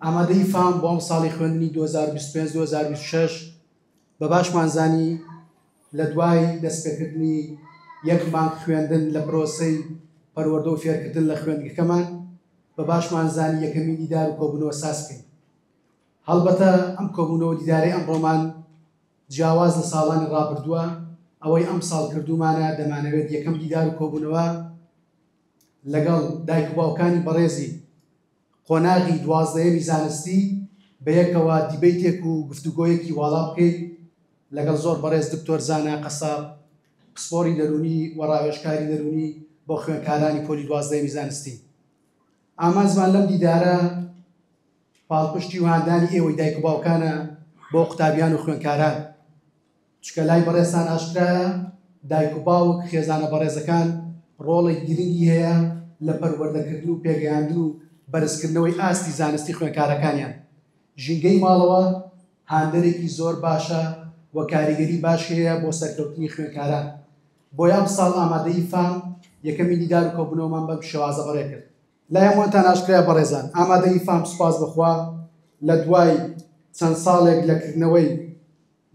ئامادەیی فام بۆ ئەمساڵی خوێندنی 2025-2026 بە باشمان زانی لە دوای دەستپێکردنی یەک مانگ خوێندن لە پرۆسەی پەروەردە و فێرکردن لە خوێندگەکەمان بە باشمان زانی یەکەمی دیدار و کۆبوونەوە ساز بکەین هەڵبەتە ئەم کۆبوونەوە دیدارەی ئەمڕۆمان جیاواز لە ساڵانی ڕابردووە ئەوەی ئەم ساڵ کردومانە دەمانەوێت یەکەم دیدار و کۆبوونەوە لەگەڵ دایک باوکانی بەڕێزی قۆناغی دوازدەیەمی زانستی بە یەکەوە دیبەیتێک و گفتوگۆیەکی واڵا بکەین لەگەڵ زۆر بەڕێز دکتۆر زانا قەساب پسپۆڕی دەروونی و ڕاوێژکاری دەروونی بۆ خوێندکارانی پۆلی دوازدەیەمی زانستی ئامانجمان لەم دیدارە پاڵپشتی و هاندانی ئێوەی دایک و باوکانە بۆ قوتابیان و خوێندکاران چونکە لای بەڕێزتان ئاشکرایە دایک و باوک، خێزانە بەڕێزەکان ڕۆڵێکی گرنگی هەیە لە پەروەردەکردن و پێگەیاندن و بەرزکردنەوەی ئاستی زانستی خوێنکارەکانیان. ژینگەی ماڵەوە هاندەرێکی زۆر باشە و کاریگەری باش هەیە بۆ سەرکەوتنی خوێنکاران. بۆیە ئەمساڵ ئامادەیی فام یەکەمین دیدار و کۆبوونەوەمان بەم شێوازە بەڕێ کرد. لای هەمووانتان ئاشکرایە بەڕێزان ئامادەیی فام سوپاس بە خوا لە دوای چەند ساڵێک لە کردنەوەی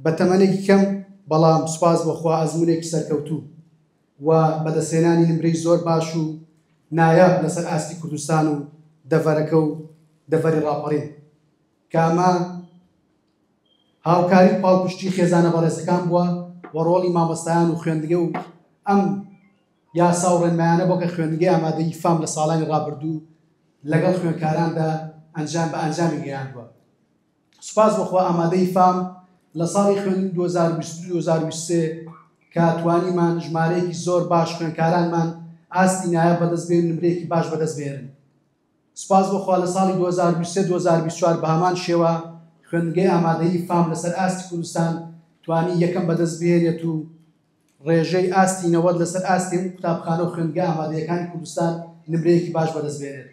بە تەمەنێکی کەم بەڵام سوپاس بۆ خوا ئەزموونێکی سەرکەوتوو و بەدەستهێنانی نمرەی زۆر باش و نایاب لەسەر ئاستی کوردستان و دەڤەرەکە و دەڤەری ڕاپەڕین کە ئەمە هاوکاری و پاڵپشتی خێزانە بەڕێزەکان بووە و ڕۆڵی مامۆستایان و خوێندگە و ئەم یاسا و ڕێنمایانە بۆ کە خوێندگەی ئامادەی فام لە ساڵانی ڕابردوو لەگەڵ خوێندکاراندا ئەنجام بە ئەنجامی گەیاندوە سوپاس بۆ خوا ئامادەی فام لە ساڵی خوێندنی دوو هەزار و بیست و دوو دوو هەزار و بیست و سێ کە توانیمان ژمارەیەکی زۆر باش خوێندکارانمان ئاستی نایاب بەدەست بێن و نمرەیەکی باش بەدەست بهێنن سوپاس بۆ خوا لە ساڵی دوو هەزار و بیست و سێ دوو هەزار و بیست و چوار بە هەمان شێوە خوێندنگەی ئامادەیی فام لەسەر ئاستی کوردستان توانی یەکەم بەدەست بهێنێت و ڕێژەی ئاستی نەوەد لەسەر ئاستی هەموو قوتابخانە و خوێندگە ئامادەیەکانی کوردستان نمرەیەکی باش بەدەست بێنێت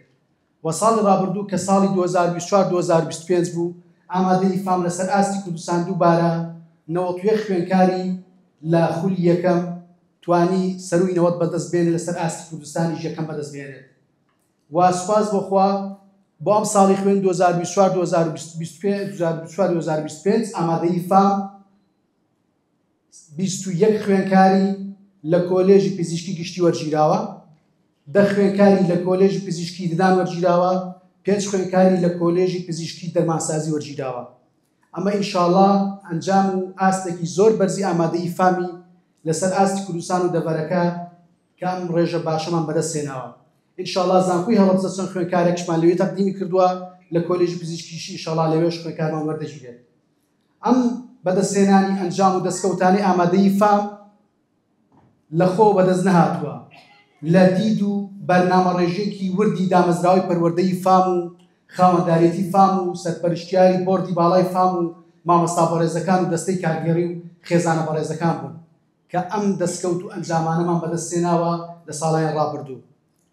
و ساڵی ڕابردوو کە ساڵی دوو هەزار و بیست و چوار دوو هەزار و بیست و پێنج بوو، ئامادەیی فام لەسەر ئاستی کوردستان دووبارە نەوەد و یەک خوێندکاری لە خولی یەکەم توانی سەرووی نەوەد بەدەست بێنێت لەسەر ئاستی کوردستانیش یەکەم بەدەست بێنێت و سوپاس بۆ خوا بۆ ئەم ساڵی خوێن 2024 2025 ئامادەی فام بیست و یەک خوێندکاری لە کۆلێژی پزیشکی گشتی وەرگیراوە، دە خوێندکاری لە کۆلێژی پزیشکی ددان وەرگیراوە، پێنج خوێندکاری لە کۆلێژی پزیشکی دەرمانسازی وەرگیراوە. ئەمە ئینشاڵا ئەنجام و ئاستێکی زۆر بەرزی ئامادەیی فامی لەسەر ئاستی کوردستان و دەڤەرەکە کە ئەم ڕێژە باشەمان بەدەست هێناوە. ئینشاڵا زانکۆی هەڵەبجە چەند خوێندکارێکشمان لەوێ تەقدیمی کردووە لە کۆلێژی پزیشکیشی ئینشاڵا لەوێش خوێندکارمان وەردەگیرێت. ئەم بەدەستهێنانی ئەنجام و دەستکەوتانەی ئامادەیی فام لە خۆوە بەدەست نەهاتووە، لە دید و بەرنامەڕێژییەکی وردی دامەزراوەی پەروەردەی فام و خاوەندارێتی فام و سەرپەرشتیاری بۆردی باڵای فام و مامۆستا بەڕێزەکان و دەستەی کارگێڕی و خێزانە بەڕێزەکان بوون کە ئەم دەستکەوت و ئەنجامانەمان بەدەستهێناوە لە ساڵانی ڕابردوو.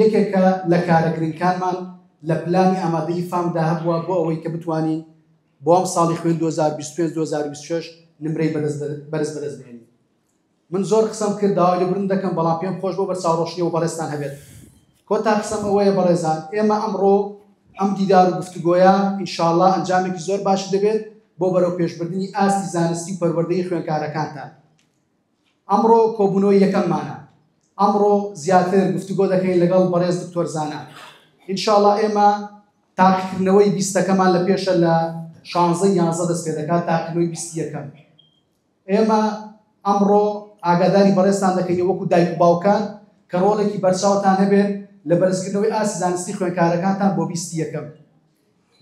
یەکێکە لە کارە گرنگکانمان لە پلانی ئامادەیی فام دا هەبووە بۆ ئەوەی کە بتوانین بۆ ئەم ساڵی خوێن 2025 2026 نمرەی بەرز بەدەست بێنین من زۆر قسەم کرد داوای لێبوردن دەکەم بەڵام پێم خۆش بۆ بە چاوڕۆشنی و بەڕێزتان هەبێت کۆتا قسەم ئەوەیە بەڕێزان ئێمە ئەمڕۆ ئەم دیدار و گفتوگۆیە ئینشاءاللە ئەنجامێکی زۆر باشی دەبێت بۆ بەرەو پێشبردنی ئاستی زانستی و پەروەردەی خوێنکارەکانتان ئەمڕۆ کۆبونەوەی یەکەممانە ئەمڕۆ زیاتر گفتوگۆ دەکەین لەگەڵ بەڕێز دکتۆر زانا ئینشاءاللە ئێمە تاقیکردنەوەی بیستەکەمان لە پێشە لە شانزە یانزە دەست پێ دەکات تاقیکردنەوەی بیستی یەکەم ئێمە ئەمڕۆ ئاگاداری بەڕێزتان دەکەین وەکو دایک و باوکان کە ڕۆڵێکی بەرچاوتان هەبێت لە بەرزکردنەوەی ئاسی زانستی خوێنکارەکانتان بۆ بیستی یەکەم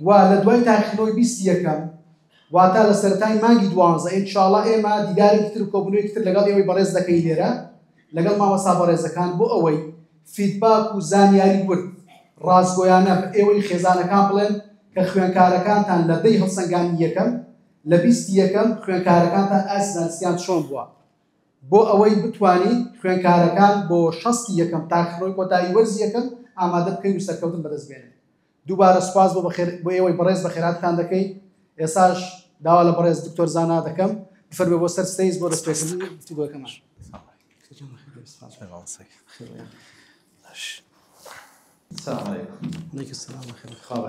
و لە دوای تاقیکردنەوەی بیست یەکەم واتە لە سەرەتای مانگی دوانزە ان شاءاللە ئێمە دیدارێکی تر و کۆبوونەوەیەکی تر لەگەڵ ئێوەی بەڕێز دەکەین لێرە لەگەڵ مامۆستا بەڕێزەکان بۆ ئەوەی فیدباک و زانیاری ورد ڕاستگۆیانە بە ئێوەی خێزانەکان بڵێن کە خوێنکارەکانتان لە دەی هەڵسەنگانی یەکەم لە بیست یەکەم خوێنکارەکانتان ئاستی زانستیان چۆن بووە بۆ ئەوەی بتوانین خوێنکارەکان بۆ شەستی یەکەم تاقیکردنەوەی کۆتایی وەرزی یەکەم ئامادە بکەین و سەرکەوتن بەدەست بێنن دووبارە سوپاس بۆ ئێوەی بەڕێز بەخێراتتان دەکەین، ئێساش داوا لە بەڕێز دکتۆر زانا دەکەم بفەرمێ بۆ سەر ستەیز بۆ دەستپێکردنی گفتوگۆکەمان.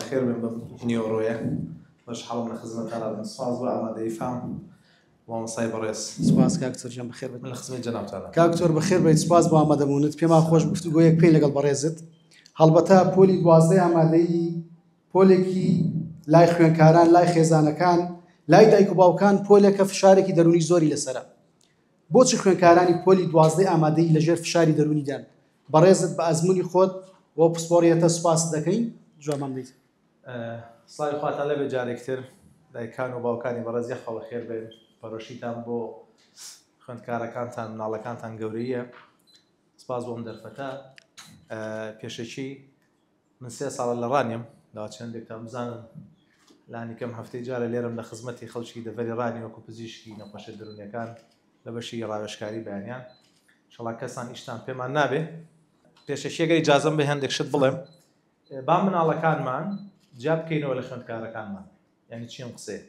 خێر بێ بەم نیوەڕۆیە بەش حاڵم لە خزمەتتانە سوپاس بۆ ئامادەی فام. مامۆستای بەڕێز. سپاس کاک دکتۆر گیان بەخێربێت. من لە خزمەتی جەنابتانم. کاک دکتۆر بەخێربێیت سپاس بۆ ئامادەبوونت پێمان خۆش گفتوگۆیەک پێی لەگەڵ بەڕێزت هەڵبەتە پۆلی دوازدەی ئامادەیی پۆلێکی لای خوێنکاران لای خێزانەکان لای دایک و باوکان پۆلێکە فشارێکی دەرونی زۆری لەسرە بۆچی خوێنکارانی پۆلی دوازدەی ئامادەی لەژێر فشاری دەرونیدان بەڕێزت بە ئەزمموی خۆت بۆ پسپۆڕیەتە سوپاس دەکەین جوابمان دیت سڵاوی خواتان لەبێت جارێک تر دایکان و باوکانی بەڕێز یەخوا بەخێر بێن پەرۆشیتان بۆ خوێندکارەکانتان مناڵەکانتان گەورەیە سپاس بۆم دەرفەتە پێشەکی من سێ ساڵە لە ڕانیم دا چندێکتان بزانم لانی کەم هەفتەی جارە لێرم لە خزمەتی خەڵکی دەڤری ڕانی وەکو پزیشکی نەخۆشە دەرونەکان لە بەشی ڕاوێشکاری بەیانیان شڵا کەسان ئیشتان پێمان نابێ پێشەکیەکەی جازم بە هەندێک شت بڵێم با مناڵەکانمان جیا بکەینەوە لە خوێندکارەکانمان یعنی چی ئەم قسەیە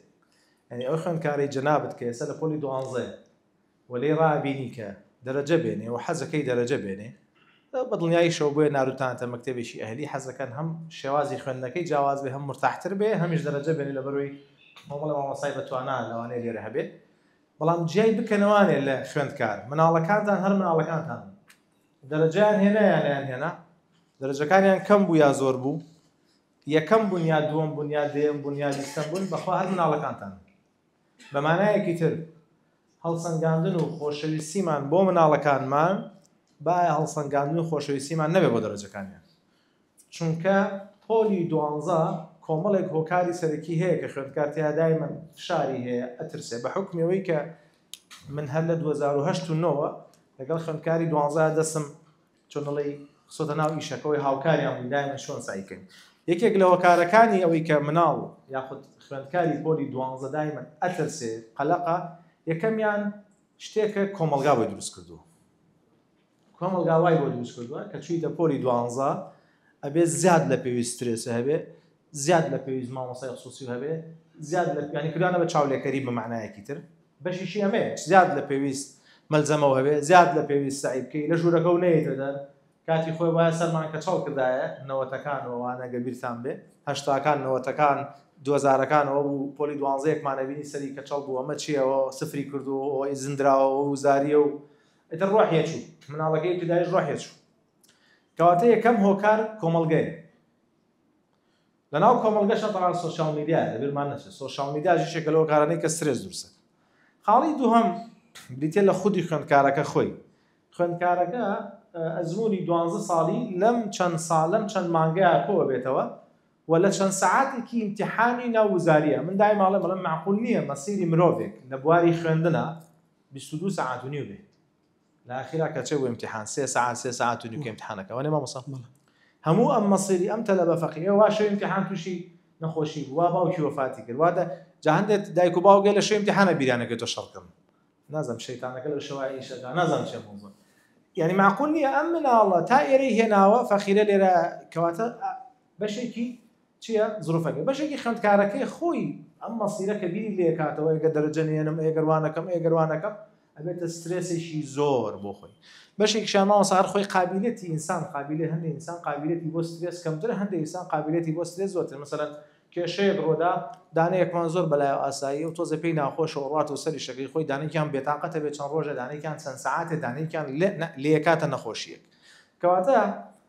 یعنی ئەو خوێندکارەی جەنابت کە ئێستا لە پۆلی دوانزەیە و لێی ڕابینی کە دەرەجە بێنێ و حەزەکەی دەرەجە بێنێ بە دڵنیاییشەوە بۆیە ناروتانتە مەکتەبێکی ئەهلی حەزەکان هەم شێوازی خوێندنەکەی جیاواز بێ هەم مرتاحتر بێ هەمیش دەرەجە بێنێ لە بەرۆی مامەڵە مامەسای بەتوانا لەوانەیە لێرە هەبێت بەڵام جیای بکەنەوانێ لە خوێندکار مناڵەکانتان هەر مناڵەکانتان دەرەجەیان هێنا یا نەیانهێنا، دەرەجەکانیان کەم بوو یا زۆر بوو، یەکەم بوون یا دووەم بوون یا دەیەم بوون یا بیستەم بوون، بەخوا هەر مناڵەکانتان بە مانایەکی تر هەڵسەنگاندن و خۆشەویستیمان بۆ مناڵەکانمان بایە هەڵسەنگاندن و خۆشەویستیمان نەبێ بۆ دەرەجەکانیان. چونکە پۆلی دوانزە کۆمەڵێک هۆکاری سەرەکی هەیە کە خوێندکار تێا دایمەن فشاری هەیە ئەترسێ بە حوکمی ئەوەی کە من هەر لە 2008 و نۆوە لەگەڵ خوێندکاری دوانزە دەسم چۆنڵی خسۆتە ناو ئیشەکەەوەی هاوکاریان بوو دایمە شۆن سایکەین یەکێک لە هۆکارەکانی ئەوەی کە مناڵ یاخود خوێندکاری پۆلی دوانزە دایمە ئەترسێ قەلەقە یەکەمیان شتێکە کۆمەلگا بە دروست کردووە کۆمەڵگا وای بۆ دروست کردووە کە چوویتە پۆلی دوانزە ئەبێ زیاد لە پێویست ترێسە هەبێ زیاد لە پێویست مامۆسای خصوصی هەبێ زیاد لە پیانی کردوانە بە چاولێکەری بە معنایەکی تر بەشیشی ئەمێ زیاد لە پێویست مەلزەمەوە هەبێ زیاد لە پێویست سعی بکەی لە ژوورەکە و نەیتە دەر کاتی خۆی وایە سەرمان کە چاڵ کردایە نەوەتەکان وانە گەبیرتان بێ هەشتاکان نەوەتەکان دوزارەکانەوە بوو پۆلی دوانزەیەکمانەبینی سەری کە چاڵ بوو ئەمە چیەوە سفری کردو ئەوەی زندراوە و زاریە و ئیتر ڕۆحیە چوو مناڵەکەی ابتدایش ڕۆحیە چوو کەواتە یەکەم هۆکار کۆمەڵگەیە لەناو کۆمەڵگەشە بەڵام سۆشال میدیا لەبیرمان نەچێت سۆشال میدیا ژیشێکە لەو کارانەی کە سرێز دروستە خاڵی دووهم بریتە لە خودی خوێندکارەکە خۆی خوێندکارەکە ئەزمموی دوانزە ساڵی لەم چەند ساڵ لەم چەند مانگەیە کۆ بێتەوە و لە چەند سعاتێکی امتحانی ناوزاریە من دای ماڵێ بەڵم معقول نییە مەسیری مرۆڤێک لە بواری خوێندنە بیست و دوو سەعات و نیو بێت لە ئاخیرا کە چێ بۆ ئیمتیحان سێ سەعات سێ سەعات و نیو کە ئیمتیحانەکە وانێ مامۆستا هەموو ئەم مەسیری ئەم تەلەبە فەقیرە وا شەو ئیمتیحان تووشی نەخۆشی بوو وا باوکی وەفاتی کرد واتە جا هەندێک دایک و باوکێ لە شەو ئیمتیحانە بیرانەکەی تۆ شەڕ کردن نازم شەیتانەکە لەو شەوای ئیشەکە نازم چێ موزم یعنی معقول نییە ئەم مناڵە تا ئێرەی هێناوە فەخیرە لێرە کەواتە بەشێکی چیە زروفەکە بەشێکی خوێندکارەکەی خۆی ئەم مەسیرە کە بیری لێکاتەوە ئەگە دەرەجە نێنم ئێگەروانەکەم ئێگەروانەکەم ئەبێتە سترێسێکی زۆر بۆ خۆی بەشێک شانەوە سار خۆی قابلەتی ئینسان قابلێ هەندێک ئینسان قابلەتی بۆ سترێس کەمتر هەندێک ئینسان قابلەتی بۆ سترێس زۆرتر مثلا کێشەیەک ڕۆدا دانەیەکمان زۆر بەلای ئاسایی و تۆزە پێی ناخۆشە ڕات و سەری شەکەی خۆی دانێکیان بێتاقەتە بێت چەند ڕۆژە دانێکیان چەند سعاتێ دانێکیان لێکاتە نەخۆشیەک کەواتە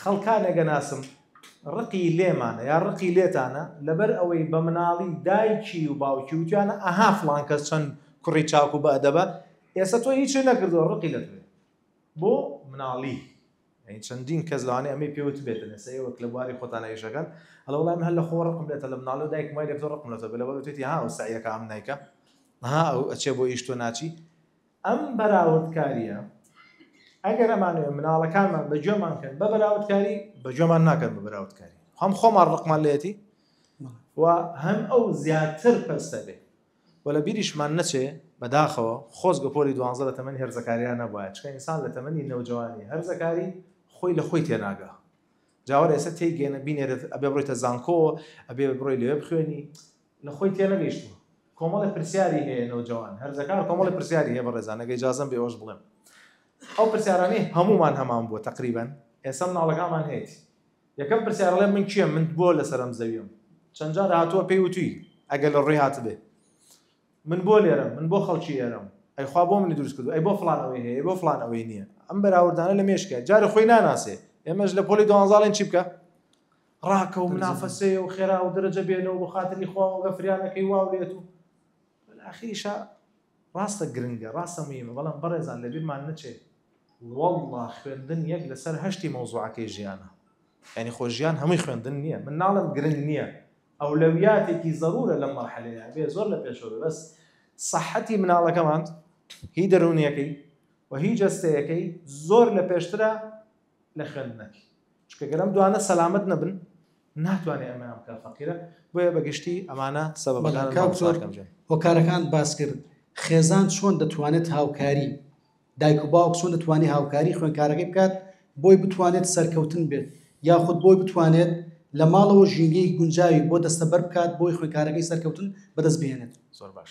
خەڵکان ئەگەناسم ڕقی لێمانە یا ڕقی لێتانە لەبەر ئەوەی بە مناڵی دایکی و باوکی وتیانە ئەها فڵان کەس چەند کوڕی چاک و بەدەبە ئێستا تۆ هیچ نەکردووە ڕقی لە توێ بۆ مناڵی یعنی چەندین کەس لەوانەیە ئەمەی پێوت بێتن ئێستا ئێوەک لە بواری خۆتان ئێشەکەن هەڵە وڵام هەر لە خۆ ڕقم لێتە لە مناڵی و دایک مای لێتۆ ڕقم لەتە بێ لەبەر وتێتی ها و سعیەکە ئەم نیکە ها ئەو ئەچێ بۆ ئیش تۆ ناچی ئەم بەراوردکارییە ئەگەر ئەمانەوێ مناڵەکانمان بە گوێمان کەن بە بەراوردکاری بە گوێمان ناکەن بە بەراوردکاری هەم خۆمان ڕقمان لێتی و هەم ئەو زیاتر پەستە بێ و لە بیریشمان نەچێ بەداخەوە خۆز گەپۆری دوانزە لە تەمەنی هەرزەکاریان نەبواە چکە ئینسان لە تەمەنی نەوجوانی هەرزەکاری خۆی لە خۆی تێناگە جاوە ئێستا تێگەێنە بینێرت ئەبێ بڕیتە زانکۆ ئەبێ بڕۆی لەوێ بخوێنی لە خۆی تێنەگەیشتووە کۆمەڵێ پرسیاری هەیە نەوجەوان هەرزەکار کۆمەڵی پرسیاری هەیە بەڕێزان ئەگەر ئیجازەم بێ ئەوەش بڵێم ئەو پرسیارانەی هەموومان هەمان بووە تقریبا ئێستا مناڵەکانمان هەیەتی یەکەم پرسیارڵێ من کێ من بۆ لەسەرم زەویم چەند جار هاتووە پێی وتوی ئەگەر لە ڕووی هاتبێ من بۆ لێرم من بۆ خەڵکی ئێرەم ئەیخوا بۆ منی دروست کردو ئەی بۆ فلان ئەوەی هەیە بۆ فلان ئەوەی نییە ئەم بەراوردانە لە مێشکە جارە خۆی ناناسێ ئێمەش لە پۆلی دوانزاڵێن چی بکە ڕاکە و منافەسەیە و خێرا و دەرەجە بێنە و بۆ خاتری خوا و ئەگە فریا نەکەی وا و لێت و وەل ئاخیریشا ڕاستە گرنگە ڕاستە مویمە بەڵام بەڕێزان لە بیرمان نەچێ وەڵڵا خوێندن یەک لە سەر هەشتی مەوزوعەکەی ژیانە یانی خۆ ژیان هەمووی خوێندن نییە من ناڵم گرنگ نییە ئەولەویاتێکی زەرورە لەم مەرحەلەیە بێ زۆر لە پێشەوە بێ بەس سەحەتی مناڵەکەمان هی دەروونیەکەی و هی جەستەیەکەی زۆر لە پێشترە لە خوێندنەکەی چونکە گەر ئەم دوانە سەلامەت نەبن ناتوانێت ئەمەیان بکە فەقیرە بۆیە بەگشتی ئەمانە سەبەکان هۆکارەکان باس کرد خێزان چۆن دەتوانێت هاوکاری دایک و باوک چۆن دەتوانێت هاوکاری خوێنکارەکەی بکات بۆی بتوانێت سەرکەوتن بێت یاخود بۆی بتوانێت لە ماڵەوە ژینگەی گونجاوی بۆ دەستەبەر بکات بۆی خوێنکارەکەی سەرکەوتن بەدەست بێنێت زۆر باش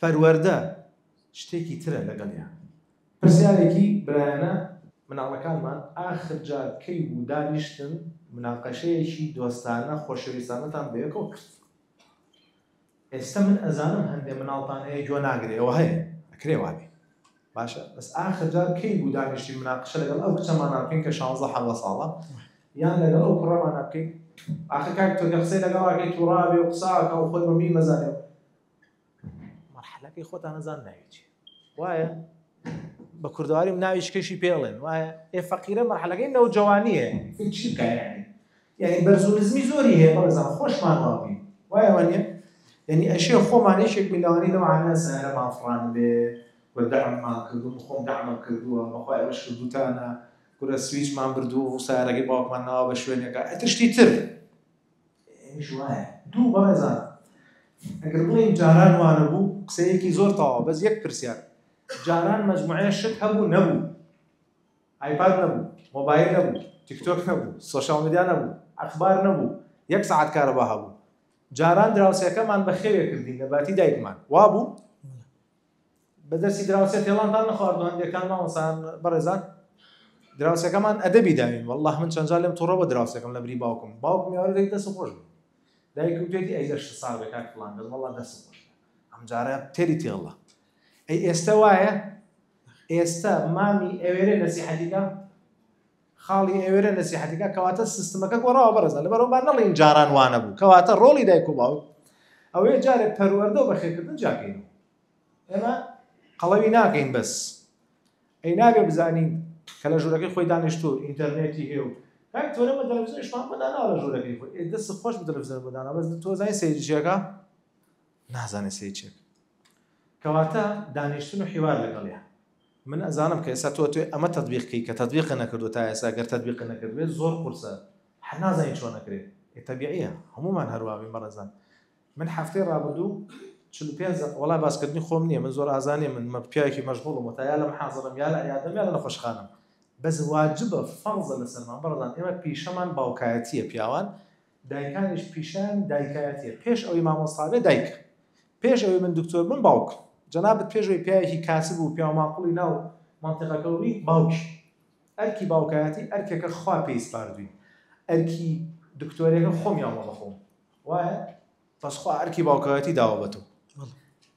پەروەردە شتێکی ترە لەگەڵیان. پرسیارێکی برایانە مناڵەکانمان ئاخر جار کەی بوو دانیشتن مناقەشەیەکی دۆستانە خۆشەویستانەتان بەیەکەوە کرد؟ ئێستە من ئەزانم هەندێ مناڵتان هەیە گوێ ناگرێ ئەوە هەیە ئەکرێ وابێ باشە بەس ئاخر جار کەی بوو دانیشتین مناقشە لەگەڵ ئەو کچەمانە بکەین کە شانزە حەڤدە ساڵە یان لەگەڵ ئەو کوڕەمانە بکەین ئاخر کاک تۆ کە قسەی لەگەڵاکەی تووڕابێ و قساکە و خۆی بەمی مەزانێ مەرحەلەکەی خۆتان نەزان ناوی چی وایە بە کوردواریم ناوی شکێکی پێڵێن وایە ئێ فەقیرە مەرحەلەکەی نەوجەوانیە چی بکە یعنی یانی بەرز و نزمی زۆری هەیە بەڕێزان خۆشمان وا بین وایە وا نیە یانی ئەشێ خۆمان یەکێک بین لەوانەی لەو عانە سەیارەمان فڕان بێ و دەعممان کردو من خۆم دەعمم کردووە بەخوا ئێوەش کردوتانە کورە سویچمان بردووە و سەیارەکەی باوکمان ناوە بە شوێنێکا ئەتر شتی تر ئەمیش وایە دوو بەڕێزان ئەگەر بڵێین جاران وانە بوو قسەیەکی زۆر تەواو بەس یەک پرسیار جاران مەجموعەیە شت هەبوو نەبوو ئایپاد نەبوو، مۆبایل نەبوو، تیکتۆک نەبوو، سۆشیال میدیا نەبوو، ئەخبار نەبوو، یەک سەعات کارەبا هەبوو، جاران دراوسێکەمان بە خێوێ کردین لە باتی دایکمان، وابوو؟ بە دەستی دراوسێ تێڵانتان نەخواردوو هەندێکان مامۆسان بەڕێزان؟ دراوسێکەمان ئەدەبی داوین والله من چەند جار لێم توڕە بە دراوسێکم لە بری باوکم باوکم یاوەرە دەی دەست خۆش بوو دایکم پێتی ئەی لەش ساوێک کاک فڵان دەست والله دەست خۆش ئەم جارە تێری تێڵە ئەی ئێستا وایە ئێستا مامی ئەوێرێ نەسیحەتی کا خاڵی ئەوێرە نەسیحەتی کا کەواتە سیستمەکە گۆڕاوە بەڕێزە لەبەرەوە با نەڵێین جاران وا نەبوو کەواتە ڕۆڵی دایک و باوک ئەوەیە جارێ پەروەردە و بەخێرکردن جیاکەین ئێمە قەڵەوی ناکەین بەس ئەی نابێ بزانین کە لە ژوورەکەی خۆی دانیشتو ئینتەرنێتی هەیە و کاک تۆرە بە تەلەڤیزیۆنیشمان بەداناوە لە ژوورەکەی خۆی دەست خۆش بە تەلەڤیزیۆن بەداناوە بەس تۆ زانین سەیریشیەکە نازانێ سەیر چێک کەواتە دانیشتن و حیوار لەگەڵیان. من ئەزانم کە ئێستا تۆ ئەتوێ ئەمە تەتبیق کەی کە تەتبیقە نەکردوە تا ئێستا گەر تەتبیقە نەکردبێ زۆر قورسە حە نازانی چۆن ئەکرێ ئێ تەبیعیە هەموومان هەروا بین بەڕێزان من حەفتەی ڕابردوو چل و پێنج دەق وەڵای باسکردنی خۆم نییە من زۆر ئازا نییە من مە پیاوێکی مەشغوڵم وەتا یا لە محازەڕەم یا لە عیادەم یا لە نەخۆشخانەم بەس واجبە فەڕزە لەسەرمان بەڕێزان ئێمە پیشەمان باوکایەتییە پیاوان دایکانیش پیشان دایکایەتیە پێش ئەوەی مامۆستابێ دایکە پێش ئەوەی من دکتۆر بم باوکم جەنابت پێش ئەوەی پیاوێکی کاسب و پیاو ماقوڵی ناو منطقەکە و بی باوکی ئەرکی باوکایەتی ئەرکێکە خوا پێی سپاردوین ئەرکی دکتۆرێکە خۆمیان وە بەخۆم وایە بەس خوا ئەرکی باوکایەتی داوە بە تۆ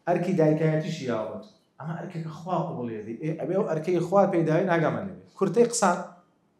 ئەرکی دایکایەتیشی یاوە ئەمە ئەرکێکە خوا قوڵێدی ئەبێ و ئەرکەی خوا پێداوی ناگەمە لێ کورتەی قسان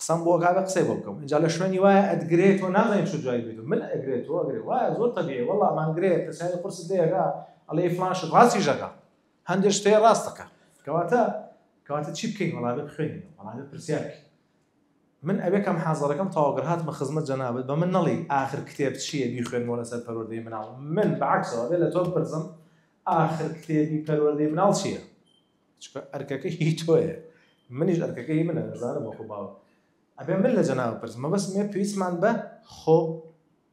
قسەم بۆ کاکە قسەی بۆ بکەم ئینجا لە شوێنی وایە ئەتگرێ تۆ نازانین چ جوابی بدەیت من ئەگرێ تۆ ئەگرێ وایە زۆر تەبیعی وەڵڵا ئەمان گرێ پرسیاری قورست لێ ئەکا ئەڵێ ئی فڵان شت ڕاستیش ئەکا هەندێک شتێ ڕاست ئەکا کەواتە کەواتە چی بکەین وەڵا بێ بخوێنین وەڵا بێ پرسیار بکەین من ئەوێ کەم حازەرەکەم تەواوگەر هاتمە خزمەت جەنابەت بە من نەڵی ئاخر کتێب چییە بیخوێنمەوە لەسەر پەروەردەی مناڵ من بەعکسەوە بێ لە تۆ بپرسم ئاخر کتێبی پەروەردەی مناڵ چییە چکە ئەرکەکە هی تۆیە منیش ئەرکەکە هی منە زانم وەکو باوە ئەبێ من لە جەناو پرس مەبەست مێ پێویستمان بە خۆ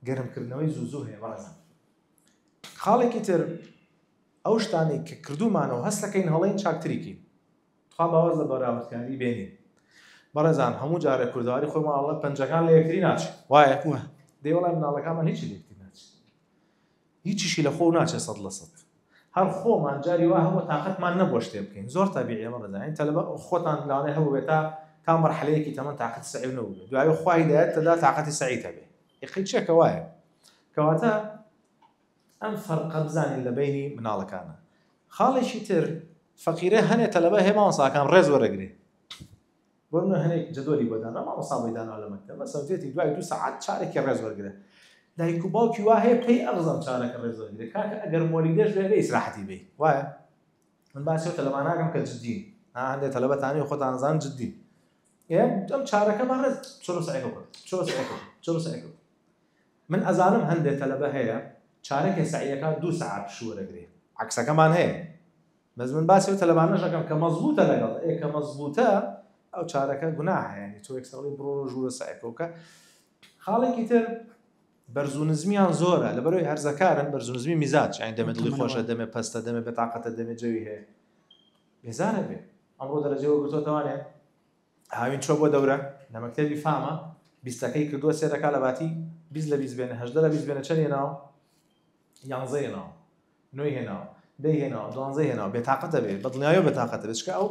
گەرمکردنەوەی زوو زوو هەیە بەڕێزم خاڵێکی تر ئەو شتانی کە کردومانەوە هەستەکەین هەڵین چاکتریکی تخوا باوەز لە بەراوردکاری بێنین بەڕێزان هەموو جارە کوردواری خۆماڵە پەنجەکان لە یەکتری ناچ وایە دێوەڵای مناڵەکانمان هیچ لێکتری ناچ هیچیشی لە خۆو ناچێت سەد لە سەد. هەر خۆمان جاری وا هەبووە تاقەتمان نەبووە شتێ بکەین زۆر تەبیعیە بەڕێزان یانی تەلەبە خۆتان لەوانەیە هەبووبێت تا تا مەرحەلەیەکی تەمەن تاقەتی سەعیو نەبووبێت دوایی خوا هیدایەت تەدا تاقەتی سەعی تەبێ یەقەی چیە کە وایە کەواتە ئەم فەرقە بزانین لە بینی مناڵەکانە خاڵێکی تر فەقیرە هەنێ تەلەبە هێماوەساکان ڕێز وەرەگرێ بۆ نمونە هەنێک جەدۆلی بۆ دانرا مامۆستا بۆی دانوا لە مەکتەب مەسەن فێتی دوای دوو سەعات چارێکی ڕێز وەرگرە دایک و باوکی وا هەیە پێی ئەڕزان چارەکە ڕێز وەرگرە کاکە ئەگەر مۆلیدەش بێ بێ ئیسراحەتی بێ وایە من باسی تەلەبان ناکەم کە جدین هەندێک تەلەبەتانی خۆتان زان جدین ئەم چارەکە بە ڕێز چۆرۆ سەعەکە بکە چۆرۆ سەعەکە بکە چۆرۆ سەعەکە بکە من ئەزانم هەندێک تەلەبە هەیە چارەکە سەعیەکان دوو سەعات شوەرەگرێ عکسەکەمان هەیە بەس من باسی ئەو تەلەبانەش ئەکەم کە مەزبووتە لەگەڵ ئێ کە مەزبووتە ئەو چارەکە گوناحە یعنی تۆ یەکسەر ئەڵێی بڕۆ ژوورە سەعیەکە بکە خاڵێکی تر بەرز و نزمیان زۆرە لەبەرەوەی هەرزەکارن بەرز و نزمی میزاج یعنی دەمێ دڵی خۆشە دەمێ پەستە دەمێ بێتاقەتە دەمێ جەوی هەیە بێزارە بێ ئەمڕۆ دەرەجەوە گرتۆتەوانێ هاوین چۆ بۆ دەورە لە مەکتەبی فامە بیستەکەی کردووە سێرەکە لە باتی بیست لە بیست بێنە هەشدە لە بیست بێنە چەند هێناوە یانزە هێناوە نۆی هێناوە دەی هێناوە دوانزەی هێناوە بێتاقەتە بێ بەدڵنیایەوە بێتاقەتە بێت چکە ئەو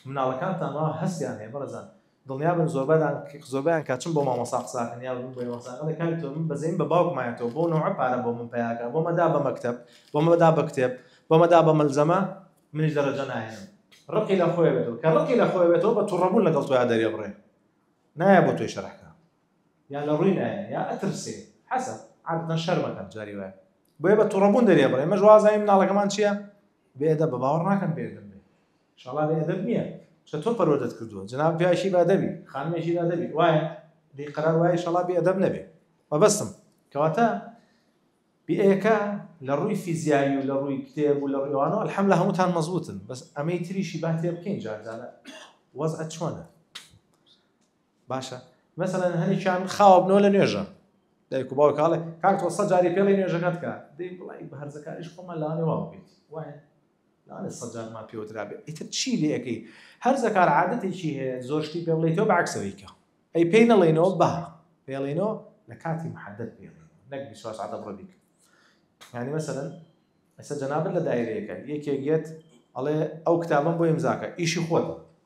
مناڵەکانتان وا هەستیان هەیە بەڕێزان دڵنیا بن زۆربەدان زۆربیان کە چون بۆ مامۆسا قساکەن یا بوون بۆی مەساقە لە کاری تۆ من بەزەین بە باوکمایەتەوە بۆ نەوە پارە بۆ من پیاکە بۆ مەدا بە مەکتب بۆ مەدا بە کتێب بۆ مەدا بە مەلزەمە منیش دەرەجە ناهێنم ڕقی لە خۆی بێتەوە کە ڕقی لە خۆی بێتەوە بە توڕەبوون لەگەڵ تۆیا دەرێ بڕێ نایە بۆ تۆی شەرحکە یا لە ڕووی نایە یا ئەترسێ حەسەب عادەتەن شەرم ئەکات جاری وایە بۆیە بە توڕەبوون دەرێ بڕێ ئێمەش وازانین مناڵەکەمان چییە بێئەدەبە باوەڕ ناکەم بێئەدەب بێ انشاءاللە بێئەدەب نییە چە تۆ پەروەردەت کردووە جەناب پیاوێکی بەئەدەبی خانمێکی بەئەدەبی وایە بێ قەرار وایە انشاءاللە بێئەدەب نەبێ مەبەستم کەواتە بئەکە لە ڕووی فیزیایی و لە ڕووی کتێب و لە ڕوانەوە الحەم لە هەمووتان مەزبوتن بەس ئەمەی تریشی با تێ بکەین جاردانە وەز ئە چۆنە باشە مەسەلەن هەنێکیان خاوە بنەوە لە نوێژە دایک و باوک هاڵێ کاک تۆ سە جاری پێڵی نوێژەکەت کە دەی بڵی بە هەرزەکاریش خۆمان لاانێ وا بێت وایە لاانێ سەجارمان پێوەترا بێت ئیتر چی لەکەی هەر زەکار عادەتێکی هەیە زۆرشتی پێ بڵی تۆ بەعکسەوەیکە ئەی پێی نەڵێنەوە بە پێڵێنەوە لە کاتی محدد پێڵێن نەک بیسواس عادە بڕە بیکە ینی مەسەن ئەسە جەنابەت لە دایرەیەەکە یەکێک یەت ئەڵێ ئەو کتابم بۆ ئمزاکە ئیشی خۆتە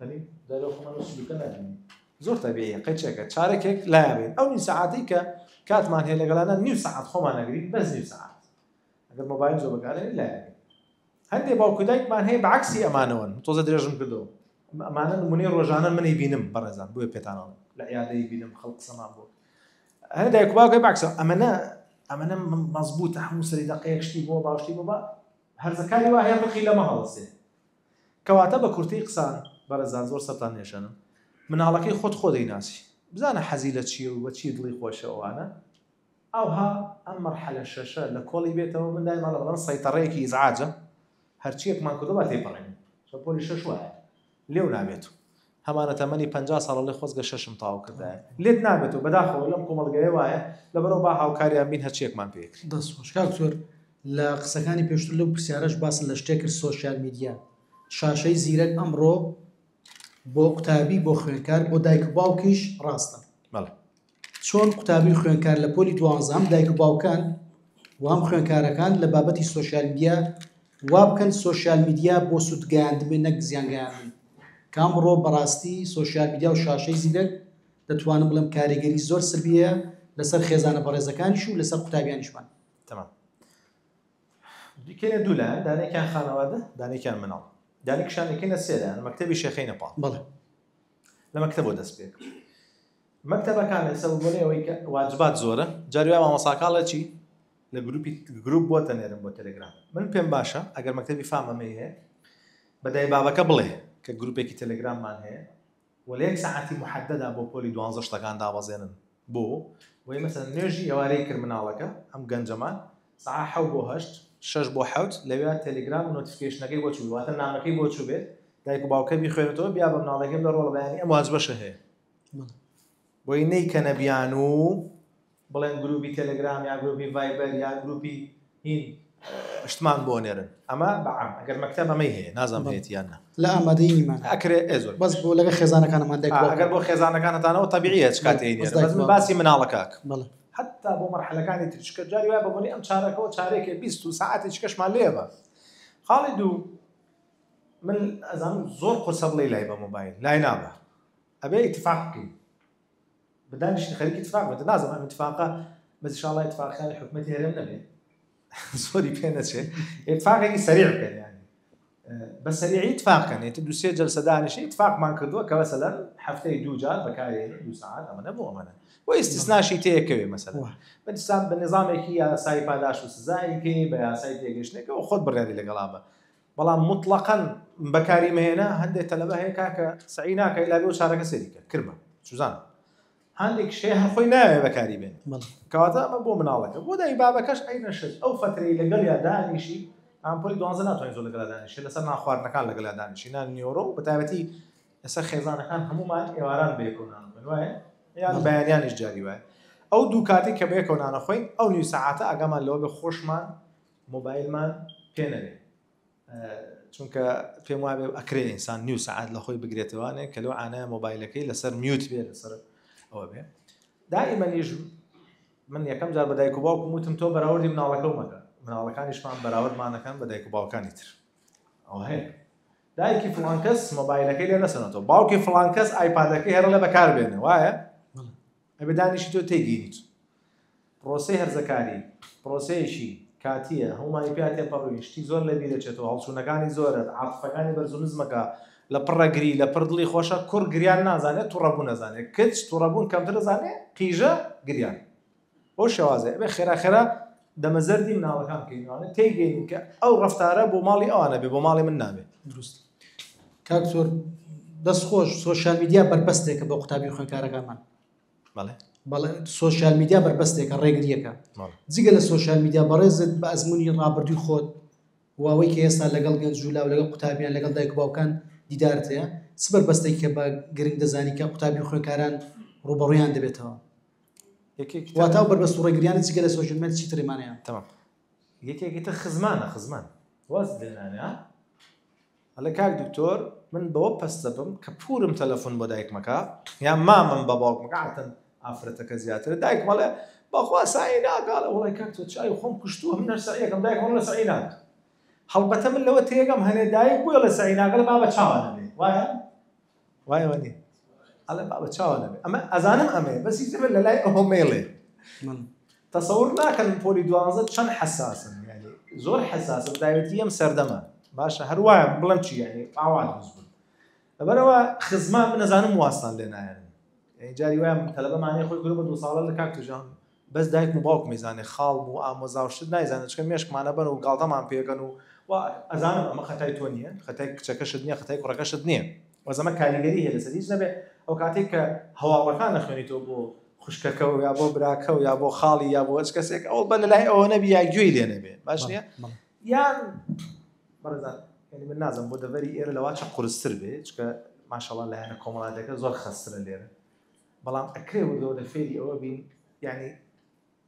ئەنی دەرەوە خۆمان لە سلوکە نابینین زۆر تەبیعیە قەیچەکە چارەکێک لایابێت ئەو نی سەعاتی کە کاتمان هەیە لەگەڵانە نیو سەعات خۆمان نەگرین بەس نیو سەعات ئەگەر مۆبایل زۆر بەکارێ لایابێت هەندێک باوکو دایکمان هەیە بەعکسی ئەمانەوەن تۆزە درێژم کردەوە ئەمانە نمونەی ڕۆژانە منی بینم بەڕێزان بۆێ پێتانەوە لە عیادەی بینم خەڵ قسەمان بۆ هەر دایک باوکەی باکسە ئەمەە ئەمەە مەزبوط هەموو سەری دەقەیەک شتی بۆ باشتی بۆ بە هەرزەکاری وایە بقی لەمە هەڵسێ کەواتە بە کورتەی قسە بەڕێزان زۆر سەرتان نێشێنم مناڵەکەی خۆت خۆ دەیناسی بزانە حەزی لە چیە و بە چی دڵی خۆشە ئەوانە ئەوها ئەم مەرحەلە شەشە لە کۆڵی بێتەوە من دایمان ئەڵێم سەیتەڕەیەکی ئیزعاجە هەرچیەکمان کردوە با تێپەڕێنین چۆن پۆلی شەش وایە لێو نابێت و هەمانە تەمەنی پەنجا ساڵە بڵێ خۆزگە شەشم تەواو کردایە لێت نابێتەوە بەداخەوە لەم کۆمەڵگایە وایە لەبەرەوە با هاوکاریان بین هەرچیەکمان پێ کرد. دەست خۆش کاک زۆر لە قسەکانی پێشتر لەو پرسیارەش باست لە شتێک کرد سۆشیال میدیا شاشەی زیرەک ئەمڕۆ بۆ قوتابی بۆ خوێنکار بۆ دایک باوکیش ڕاستە چۆن قوتابی و خوێندکار لە پۆلی دوانزە هەم دایک و باوکان و هەم خوێندکارەکان لە بابەتی سۆشیال میدیا وابکەن سۆشیال میدیا بۆ سوودگەیاندبێ نەک زیانگەیاندن کامڕۆ بەڕاستی سۆشیال میدیا و شاشەی زیرەک دەتوانم بڵێم کاریگەری زۆر سبیە لەسەر خێزانە بەڕێزەکانیش و لەسەر قوتابیانیشمان تمام دیکەێ دوولا دانێکیان خانەوادە دانێکیان مناڵ دانێکشانەکەینە سێدان مەکتتەبی شەخینە پاڵ بڵێ لە مەکتەبەوە دەست پێ کرد مەکتەبەکان ئێستا بۆنێ ئەوەی کە واجبات زۆرە جاروای مامەساکاڵە چی لە گروپی گروپ بۆ تەنێرم بۆ تەلگرام من پێم باشە ئەگەر مەکتەبی فامەمەی هەیە بەدای بابەکە بڵێ کە گروپێکی تەلگراممان هەیە وەلەیەک سەعاتی محددا بۆ پۆلی دوانزە شتەکان دابەزێنن بۆ وەی مەسەلەن نوێژی ئێوارەی کرد مناڵەکە ئەم گەنجەمان سەعا حەو بۆ هەشت شەش بۆ حەوت لەوێ تەلەگرام و نۆتیفیکەیشنەکەی بۆ چوو واتە نامەکەی بۆ چوو بێت دایک و باوکە بیخوێنێتەوە بیا بە مناڵەکەی بڵێ ڕۆڵە بەیانی ئەم واجبەشە هەیە بۆی نەیکەنە بیان و بڵێن گروپی تەلەگرام یا گروپی ڤایبەر یا گروپی هین شتمان بۆ نێرن ئەمە بەعام ئەگەر مەکتەب ئەمەی هەیە نازانم هەیەتی یان نا لە ئامادەی نیمان ئەکرێ ئێ زۆر بەس بۆ لەگە خێزانەکانمان دێک آه، ئەگەر بۆ خێزانەکانتانەوە تەبیعیە چ کاتێ بەس نێرن دایک بەس من بابا. باسی مناڵەکەک بەڵێ حتا بۆ مەرحەلەکانی تر چکە جاری وای بەبنی ئەم چارەکەەوە چارێکێ بیست و ساعتی چکەشمان لێبە خاڵی دوو من ئەزانم زۆر قورسە بڵێ لای بە مۆبایل لای نابە ئەبێ ئیتفاق بکەین بە دانیشتن خەریکی اتفاق بێت نازم ئەم اتفاقە بەس انشاءالله اتفاقەکانی حکومەتی هەرێم نەبێت زۆری پێ نەچێت اتفاقێکی سەریع بکەن یعنی بە سەریعی اتفاق کەن یعنی دوو سێ جلسە دانیشی اتفاقمان کردووە کە مثلا هەفتەی دوو جار بەکارێ دوو ساعت ئەمەە بۆ ئەمەە و استثناشی تێکەوێ مثلا بەستان بە نظامێکی یاسایی پاداش و سزایەکی بە یاسای تێگەشتێکەوە خۆت بڕیاری لەگەڵا بە بەڵام مطلقەن بەکاری مەهێنە هەندێک تەلەبە هەیە کاکە سعی ناکەی لا بۆ چارەکە سەریکە کرمە سوزان هەندێک شێ هەخۆی ناوێ بەکاری بێن کاتە ئەمە بۆ مناڵەکە بۆ دای بابەکەش ئەی نەشت ئەو فترەی لەگەڵ یا دانیشی ئەمپۆی دوانزە ناتوانین زۆر لەگەڵ دانیشی لەسەر ناخواردنەکان لەگەڵ دانیشی نان نیۆرۆ بە تایبەتی لەسەر خێزانەکان هەمومان ئێواران بێکۆنان وایە یان بەیانیانیش جاری وایە ئەو دوو کاتی کە بێکۆنانە خۆین ئەو نیو سەعاتە ئەگەمان لەوە بە خۆشمان مۆبایلمان پێ نەوێ چونکە پێم وابێ ئەکرێ ئینسان نیو سعات لە خۆی بگرێتەوانێ کە لەو ئانایە مۆبایلەکەی لەسەر میوت بێ لەسەر ئەوە بێ دائیمەنیش من یەکەم جار بە دایک و باوکم وتم تۆ بەراوردی مناڵەکەمەکە مناڵەکانیشمان بەراوردمانەکان بە دایک و باوکانی تر ئەو هەیە دایکی فلان کەس مۆبایلەکەی لێ نەسەنەوە باوکی فلان کەس ئایپادەکەی هەرە لە بەکار بێنە وایە ئەبێ دانیشی تۆ تێگەیت پرۆسەی هەرزەکاری پرۆسەیەکی کاتییە هەمومانی پیا تێپەڕوین شتی زۆر لە بیرەچێتەوە هەڵچوونەکانی زۆرە عاتفەکانی بەرز و نزمەکە لە پڕەگری لە پڕ دڵی خۆشە کوڕ گریان نازانێت توڕەبوو نەزانێت کچ توڕەبوون کەمتر دەزانێت قیژە گریان بۆ شێوازێ بێ خێرا خێرا دەمە زەردی مناڵەکان کەینوانە تێگەین کە ئەو ڕفتارە بۆ ماڵی ئەوانە بێ بۆ ماڵی من نابێت دروست کاک زۆر دەست خۆش سوۆشال میدیا بەربەستێکە بۆ قوتابی خوێنکارەکانمان بەڵێ سوۆشال میدیا بەربەستێکە ڕێگریەکە جگە لە سوۆشال میدیا بەڕێزت بە ئەزمموی ڕابردووی خۆت واوەی کە ئێستا لەگەڵ گەنج جولا و لەگەڵ قوتابیان لەگەڵ دایک باوکان دیدارت هەیە سبەر بەستێک کە بە گرنگ دەزانی کە قوتابی خوێنکاران ڕوبەڕیان دەبێتەوە واتا بەربەست ڕێگریانی چگە لە سۆژمەر چی ترمانەیە یەکێکی تر خزمانە خزمان واز لێنانە ئەلە کاک دکتۆر من بەوە پەستە بم کە پورم تەلەفۆن بۆ دایکمەکە یا مامم بە باوکمەکەتن ئافرەتەکە زیاتر دایک مەڵێ بەخوا سای ناگاڵە وڵی کاک تۆ چای خۆم کوشتووە من نەرسەیەکەم دایکم لە سەعی ناکە هەڵبەتە من لەوە تێگەم هەنێ دایک بۆ لە سەعی ناگەڵ بابە چاوانە بێ وایە وایە وە نیە ئەڵێ بابە چاوە نەبێ ئەمە ئەزانم ئەمەیە بەس هیچ لە لای ئەوە مەیڵێ تەسەور ناکەن پۆلی دوازە چەند حەساسن یعنی زۆر حەساسە داوێتی ئەم سەردەمە باشە هەروایە بڵم چی یعنی ئاوا دروست بوون لەبەرەوە خزمان من نەزانم واستان لێ نایەن جاری وایە تەلەبەمانەیە خۆی گرو بە دوو ساڵە لە کاک توژان بەس دایکم و باوکم ئەیزانێ خاڵم و ئامۆزا و شت نایزانن چکە مێشکمان ئەبەن و گاڵتەمان پێ ئەکەن و وا ئەزانم ئەمە خەتای تۆ نیە خەتای کچەکەشت نیە خەتای کوڕەکەشت نیە بەس ئەمە کاریگەری هەیە لەسەر هیچ نەبێ ئەو کاتەی کە هەواڵەکان ئەخوێنیتەوە بۆ خوشکەکە و یا بۆ براکە و یا بۆ خاڵی یا بۆ هەچ کەسێک ئەو بە لەلای ئەوە نەبی یا گوێی لێ نەبێ باش نیە یان بەڕێزان یعنی من نازم بۆ دەڤەری ئێرە لەواچە قورستر بێ چکە ماشەڵا لایەنە کۆمەڵاتەکە زۆر خەسترە لێرە بەڵام ئەکرێ وردە وردە فێری ئەوە بین یعنی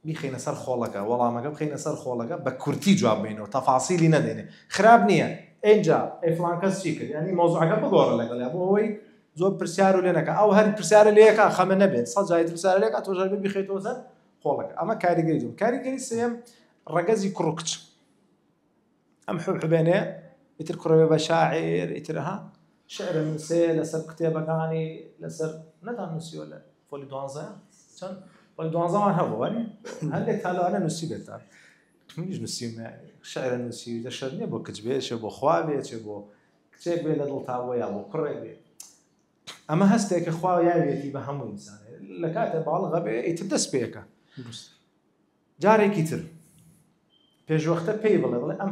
بیخینە سەر خۆڵەکە وەڵامەکە بخینە سەر خۆڵەکە بە کورتی جواب بینەوە تەفاسیلی نەدێنێ خراپ نییە ئەجا ئەفلانکەس چی کرد ینی مۆزعەکە بگۆڕە لەگەڵ بۆ ئەوەی زۆر پرسیار و لێنەکە ئەو هەر پرسیارە لەکە خەمە نەبێت سەجای پرسیار لێک تۆژار بخێتەوە سەر خۆڵەکە ئەمە کاریگەری زۆر کاریگەری سێم ڕەگەزی کوڕکچ ئەم حبحبێنێ ئیتر کوڕێ بێ بە شاعیر ئیتر ها شعرە نووسێ لەسەر کتێبەکانی لەسەر نەتان نووسیوە لە پۆلی دوانزە چەند پۆلی دوانزەمان هەبوو وەنی هەندێک تالوانە نووسی بێتان منیش نووسیم شعرە نووسی لە شەر نیە بۆ کچ بێشێ بۆ خوا بێچێ بۆ کچێک بێ لە دڵتا بۆ یا بۆ کوڕێک بێ ئەمە هەستێکە خوا یاوێتی بە هەموو ئینسانێ لە کاتێ باڵغە بێ ئیتر دەست پێەکە جارێکی تر پێشوەختە پێی بڵێ بڵێ ئەم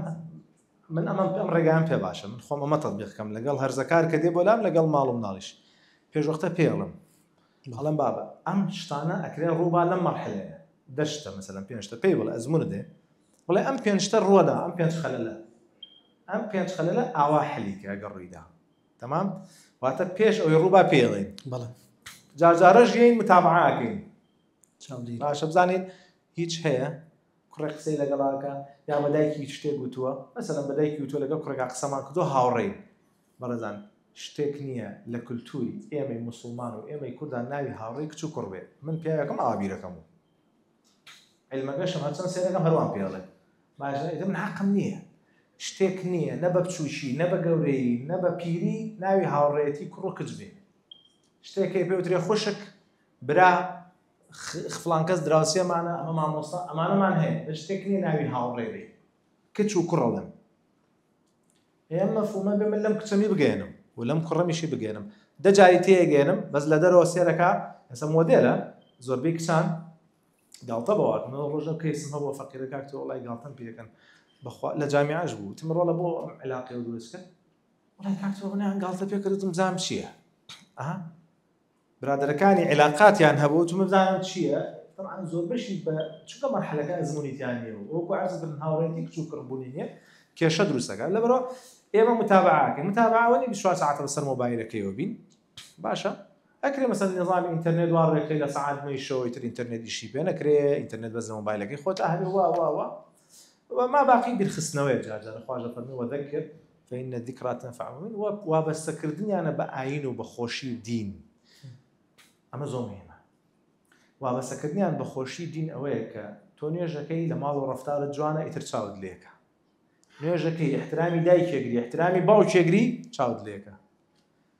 من ئەمە ئەم ڕێگان پێ باشە من خۆم ئەمە تەبیقکەم لەگەڵ هەرزەکار کە دێ بۆ لام لەگەڵ ماڵم ناڵیش پێشوەختە پێڵم هەڵم بابە ئەم شتانە ئەکرێن ڕووبا لەم مەرحلێ دەشتە مەسەلم پێنجتە پێی بڵێ ئەزمون دێ بڵێ ئەم پێنجتە ڕووەدا ئەم پێنج خەلەلە ئەم پێنج خەلەلە ئاوا حەلیکە ئەگە ڕوویدا تەمام واتە پێش ئەوی ڕووبا پێڵێن بەڵێ جارجارە ژێین متابعاکەین چاودێری. باشە بزانین هیچ هەیە کوڕێ قسەی لەگەڵاکە یا بە دایکی شتێک گوتووە مەسەلەن بە دایکی وتووە لەگەڵ کوڕێکا قسەمان کردو هاوڕێی بەڕێزان شتێک نییە لە کولتووری ئێمەی مسلمان و ئێمەی کوردا ناوی هاوڕێی کچ و کوڕ بێت من پیاوەکەم ئاوا بیرەکەم و علمەکەشم هەرچەند سێرەکەم هەروان پێڵێ باشە ئیتر من حەقم نییە شتێک نییە نە بە بچووکی نە بە گەورەی نە بە پیری ناوی هاوڕێتی کوڕ و کچ بێ شتێکی پێوترێ خوشک برا فڵان کەس دراوسێمانە ئەمە مامۆستا ئەمانەمان هەیە هیچ شتێک نییە ناوی هاوڕێ بێ کچ و کوڕە لەم ئێم مەفهومە بێ من لەم کچەمی بگەێنم و لەم کوڕەمیشی بگەێنم دەجاری تێگەێنم بەس لە دەرەوە سێرەکە ئەسە مۆدێلە زۆربەی کچان گاڵتە بەوات من ڕۆژە کەیسم هەبوو فەقیرەکە تۆ وڵای گاڵتەم پێکەن بەخوا لە جامیاش بوو تم ڕۆڵە بۆ ئەم علاقی و دروستکە وڵای کاکتۆ منیان گاڵتە پێکردتم زام چییە؟ برادەرەکانی عیلاقاتیان هەبوو چ مەبزانم چیە طبعا زۆربەشی بە چونکە مەرحەلەکە ئەزمونی تیا نیە و وەکو عەرز کرد هاوڕێتی کچ و کڕ بوونی نیە کێشە دروستەکە لەبەرەوە ئێمە متابعاکە متابعاوەنی 24 ساعت بەسەر مۆبایلەکەیەوە بین باشە ئەکرێ مەسەن نظام ئینتەرنێت وا ڕێکەکەی لە سعات نوێی شەوەی تر ئینتەرنێت ئیشی پێ نەکرێ ئینتەرنێت بەس لە مۆبایلەکەی خۆت ئاهێ وا وا وا وما باقی بیرخستنەوەی جارجار خواش لە فەرمی وەدەکرد فإن الذکری تنفع المؤمنین و وابەستە کردنیانە بە ئاین و بە خۆشی و دین ئەمە زۆر مهمە وابەستە کردنیان بە خۆشی دین ئەوەیە کە تۆ نوێژەکەی لە ماڵ و ڕفتارە جوانە ئیتر چاوت لێکە نوێژەکەی احترامی دایکێگری احترامی باوکێگری چاوت لێکە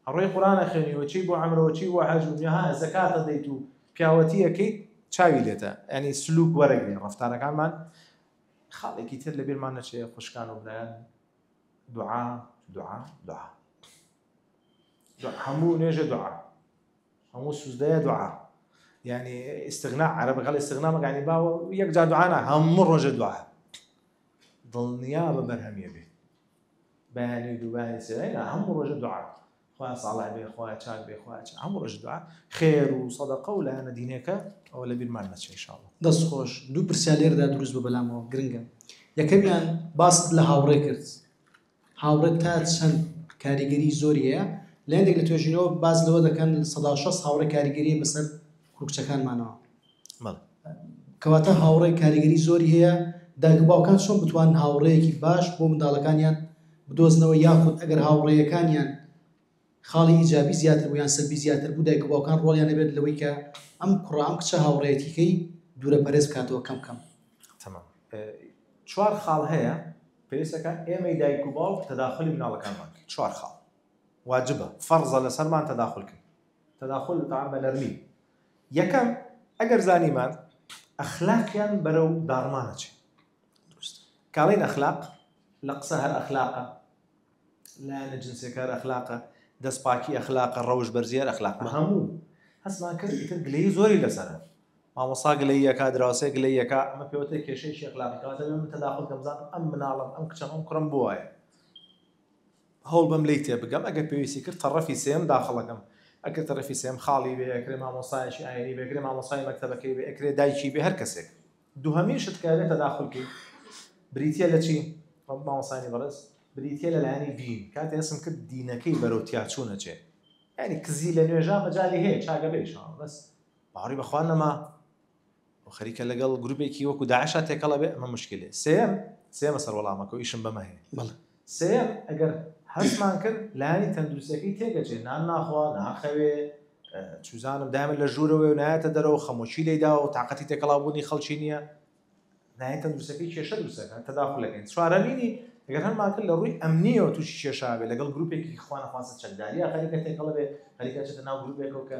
ئەڕۆی قورانە خوێنیوەچی بۆ ئەمرەوەچی بۆ حەجوها زەکاتە دەیت و پیاوەتیەکەی چاوی لێتە ئەنی سلوک وەرەگرین ڕفتارەکانمان خاڵێکی تر لە بیرمان نەچێ خوشکان و برایان دوعا دوعا دوعا هەموو نوێژە دوعا هەموو سوزدەیە دوعا یعنی ئستغنا عرە بەگەڵ ئستغنا مەگانی باوە یەک جا دوعانا هەموو ڕۆژە دوعا دڵنیا بە بەرهەمیە بێت بەیانی دووبانی سێنا هەموو ڕۆژە دوعا خوایە ساڵح بێ خوایە چاک بێ خوایە چاک هەموڕۆژ دوعا خێر و سەدەقە و لایەنە دینیەکە ئەوە لەبیرمان نەچێ ان شاءاللە. دەست خۆش دوو پرسیار لێرەدا دروست بوو بەلامەوە گرنگە یەکەمیان باست لە هاوڕێ کرد هاوڕێ تا چەند کاریگەری زۆری هەیە لە هەندێک لە توێژینەوە باس لەوە دەکەن سەدا شەست هاوڕێ کاریگەری بەسەر کوکچەکانمانەوە بەڵێ. کەواتە هاوڕێ کاریگەری زۆری هەیە، دایک و باوکان چۆن بتوانن هاوڕێیەکی باش بۆ منداڵەکانیان بدۆزنەوە یاخود ئەگەر هاوڕێیەکانیان خاڵی ئیجابی زیاتر بوو یان سەلبی زیاتر بوو دایک و باوکان ڕۆڵیان هەبێت لەوەی کە ئەم کوڕە ئەم کچە هاوڕێیەتیکەی دوورە پەرێز بکاتەوە کەم کەم. تەمام. چوار خاڵ هەیە پێویستەکە ئێمەی دایک و باوک تەداخولی مناڵەکانمان کەین چوار خاڵ واجبە فەڕزە لەسەرمان تەداخولکەین. تداخل الطعام بە نەرمی. یەکەم، ئەگەر زانیمان ئەخلاقیان بەرەو داڕمان ئەچێ. دروستە. کاڵین ئەخلاق لە قسە هەر ئەخلاقە، لایەنە جنسیەکە هەر ئەخلاقە، دەستپاکی ئەخلاقە، ڕەوش بەرزی هەر ئەخلاقە. هەموو هەستمان کرد ئیتر گلەیی زۆری لەسەرە. مامۆسا گلەییەکە، دراوسێ گلەییەکە، ئەمە پێوەتە کێشەیەکی ئەخلاقی کەواتە بێ من تداخل کەم بزانم ئەم مناڵەم، ئەم کچەم، ئەم کوڕەم بۆ وایە. هەوڵ بەم لێی تێبگەم ئەگەر پێویستی کرد تەڕەفی سێیەم داخڵەکەم ئەکرێ تەڕەفی سێیەم خاڵی بێ ئەکرێ مامۆستایەکی ئاینی بێ ئەکرێ مامۆستای مەکتەبەکەی بێ ئەکرێ دایکی بێ هەر کەسێک دووهەمین شت کە ئەبێ تەداخول کەی بریتیە لە چی ڕەب مامۆستایانی بەڕێز بریتیە لە لایەنی دین کاتێ هەستم کرد دینەکەی بەرەو تیاچوونە چێ یعنی کزی لە نوێژا مەجالی هەیە چاگە بێ ئیشاڵڵا بەس باوەڕی بەخوا نەما و خەریکە لەگەڵ گروپێکی وەکو داعشا تێکەڵ ئەبێ ئەمە موشکیلەیە سێیەم سێیەمە سەر وەڵامەکە و ئیشم بەمە هەیە بەڵێ. سێیەم ئەگەر هەستمان کرد لایەنی تەندروستیەکەی تێگەچێ نان ناخوا ناخەوێ چوزانم دایمە لە ژوورەوەی و نایەتە دەرەوە خەمۆکی لێداوە و تااقەتی تێکەڵاوبوونی خەڵکی نییە لایەن تەندروستەکەی کێشە دروستەکە تەداخلەکەین چوارەمینی ئەگەر هەرمان کرد لە ڕووی ئەمنیەوە تووشی کێشابێ لەگەڵ گروپێکی خوانەخواستە چەکداریە خەریکە تێکەڵە بێ خەریکە چێتە ناو گروپێکەوە کە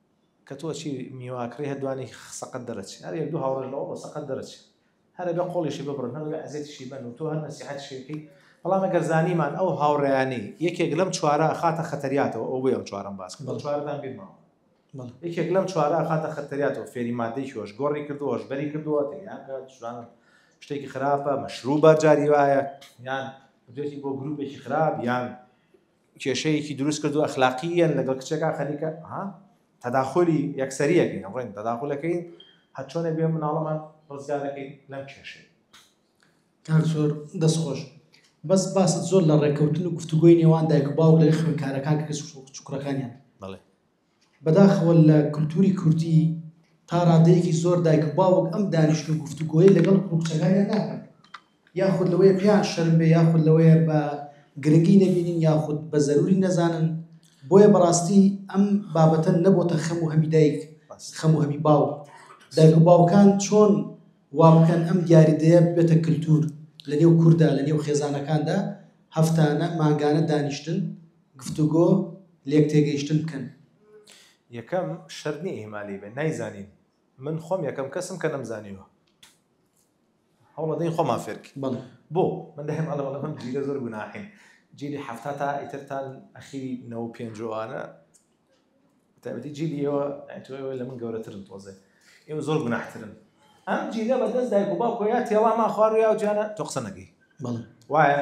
کە تۆ چی میواکڕی هەر دوانی سەقەت دەرەچی هەر یەک دوو هاوڕێش لەوە بۆ سەقەت دەرەچی هەر ئەبێ قۆڵیشی ببڕن هەر ئەبێ ئەزێتیشی بەن و تۆ هەر نەسیحەتیشی بکەی بەڵام ئەگەر زانیمان ئەو هاوڕێیانەی یەکێک لەم چوارە ئەخاتە خەتەریاتەوە ئەوەی ئەم چوارەم باس کرد بەڵێ چوارەتان بیر ماوە بەڵێ یەکێک لەم چوارە ئەخاتە خەتەریاتەوە فێری مادەی هۆش گۆڕی کردووە هۆشبەری کردووە تێیان کە جوان شتێکی خراپە مەشروبە جاری وایە یان بدوێتی بۆ گروپێکی خراپ یان کێشەیەکی دروست کردو ئەخلاقییەن لەگەڵ کچەکە خەریکە ها تەداخولی یەکسەریەکەین ڕێن تەداخولەکەین هەر چۆنە بێ مناڵەمان ڕزگار دەکەین لەم کێشەی کاک زۆر دەست خۆش بەس باست زۆر لە ڕێککەوتن و گفتوگۆی نێوان دایک و باوک لە خوێندکارەکان کە کچ و کوڕەکانیان بەڵێ بەداخەوە لە کولتووری کوردی تا ڕادەیەکی زۆر دایک و باوک ئەم دانیشت و گفتوگۆیە لەگەڵ کوڕ و کچەکانیان ناکەن، یاخود لەوەیە پێیان شەرم بێ، یاخود لەوەیە بە گرنگی نەبینن، یاخود بە زەرووری نەزانن، بۆیە بەڕاستی ئەم بابەتە نەبۆتە خەم و هەمی دایک، خەم و هەمی باوک. دایک و باوکان چۆن وا بکەن ئەم دیاریدەیە ببێتە کلتوور لەنێو کوردا، لەنێو خێزانەکاندا هەفتانە، مانگانە دانیشتن، گفتوگۆ لێک تێگەیشتن بکەن. یەکەم، شەرت نیە ئیهمالی بێت، نایزانین، من خۆم یەکەم کەسم کە نەمزانیوە، هەوڵەدەین خۆمان فێر بکەین، بۆ؟ من دایم ئەڵێم ئەڵێم ئەم جیلە زۆر گوناحین، جیلی حەفتا تا ئیتر تا ئەخیری نەوەو پێنج و ئەوانە، بەتایبەتی جیلی ئێوە، یانی تۆ ئێوە لە من گەورەترن تۆزێ، ئێوە زۆر گوناحترن، ئەم جیلە بە دەست دایک و باوکەوە یا تێڵامان خوارد و یا ئەو جیانە، تۆ قسە نەکەی، وایە؟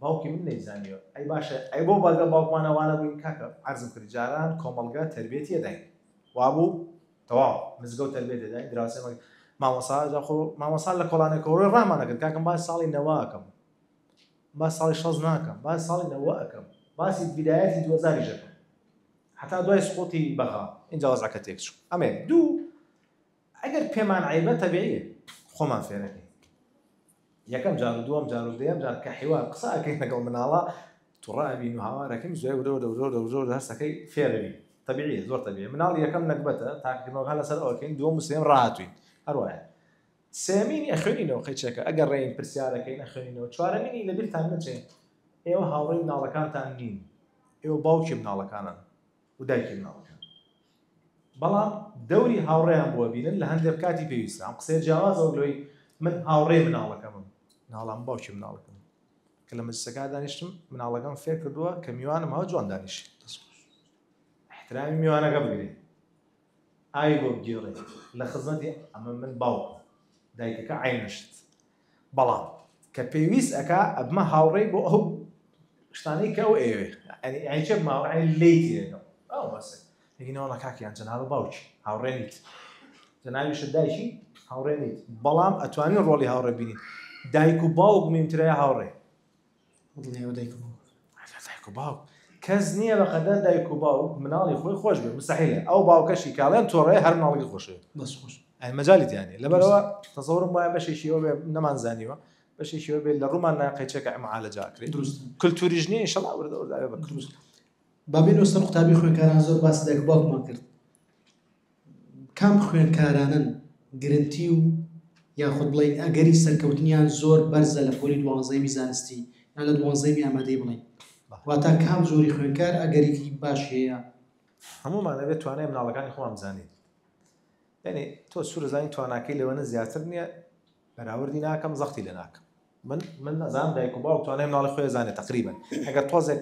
باوکی من نەی زانیوە ئەی باشە ئەی بۆ بەگە باوکمانە وانە بووین کاکە عەرزم کرد جاران کۆمەڵگە تربێتی ئەداین وابوو تەواو مزگەوت تربێت ئەداین دراوسێ مەگ مامۆسا جا خۆ مامۆسا لە کۆڵانێک کۆڕۆی ڕامانە کرد کاکەم باس ساڵی نەواکەم با ساڵی شەز ناکەم با ساڵی نەوە ئەەکەم باسی بدایەتی دوزاری ژەکەم حتا دوای سقوتی بەغا اینجا وەزعەکە تێک چوو ئەمێ دوو ئەگەر پێمان عەیبە تەبیعیە خۆمان فێرەکەین یەکەم جار و دووەم جار و دەیەم جار کە حیوار قسە ئەکەین لەگەڵ مناڵە توڕە ئەبین و هاوارەکەین زۆر ورۆ دەورۆ دەورۆ هەستەکەی فێرەوی تەبیعیە زۆر تەبیعی مناڵ یەکەم نەگبەتە تاکردنەوەها لەسەر ئەوەکەین دووەم و سێم ڕاتوین هەروایە سێمینی ئەخوێنینەوە قەیچەکە ئەگەر ڕێین پرسیارەکەین ئەخوێنینەوە چوارەمینی لە بیرتان نەچێت ئێوە هاوڕێی مناڵەکانتان نین ئێوە باوکی مناڵەکانن و دایکی مناڵەکان بەڵام دەوری هاوڕێیان بووە بینن لە هەندێک کاتی پێویستە ئەم قسەیە جیاوازەوە لەوەی من هاوڕێ مناڵەکەمم ناڵام باوکی مناڵەکەم کە لە مەجلسەکە دانیشتم مناڵەکەم فێر کردووە کە میوانم هەوە جوان دانیش احترامی میوانەکە بگرێ ئای بۆ بگێڕێ لە خزمەتی ئەمە من باوکم دایکەکە عەینە شت بەڵام کە پێویست ئەکا ئەبمە هاوڕێی بۆ ئەو شتانەی کە ئەو ئێوێ ئەی چێک ماوەعی لی تێگەم ئەو بەسێ یگینەوەڵە کاکیان جەنابە باوکی هاوڕێ نیت جەناویش دایکی هاوڕێ نیت بەڵام ئەتوانی ڕۆڵی هاوڕێ بینیت دایک و باوک مینترای هاوڕێ لێوە دایک و باوک دایک و باوک کەس نییە بە قەدەر دایک و باوک مناڵی خۆی خۆش بێ مستحیلە ئەو باوکەشی کاڵێن تۆڕێ هەر مناڵی خۆشێ بەس خۆش ئەی مەجای دیانی لەبەرەوە تەزەورم وایە بەشێکیەوە بێ نەمان زانیوە بەشێکیەوە بێت لە ڕوومان ناقەچێکە ئەمعاالە جاکرێ دروست کللتوری ژنی شڵا وردە ورداێ بە دروست بابێنەوە سەر قوتابی خوێنکاران زۆر باس دایک باوکمان کرد کام خوێندکارانەن گرنتی و یاخود بڵێین ئەگەری سەرکەوتنیان زۆر بەرزە لە پۆلی دوانزەیەمی زانستی یان لە دوانزەیەمی ئامادەی بڵێین واتا کام زۆری خوێندکار ئەگەرێکی باش هەیە هەمومان ئەبێت توانای مناڵەکانی خۆمان بزانین یعنی تۆ سوورزانی تواناکەی لەوەنە زیاتر نییە بەراوردی ناکەم زەختی لە ناکەم من من نەزان دایک و باو توانای مناڵی خۆی زانێت تقریبا ئەگەر تۆزێک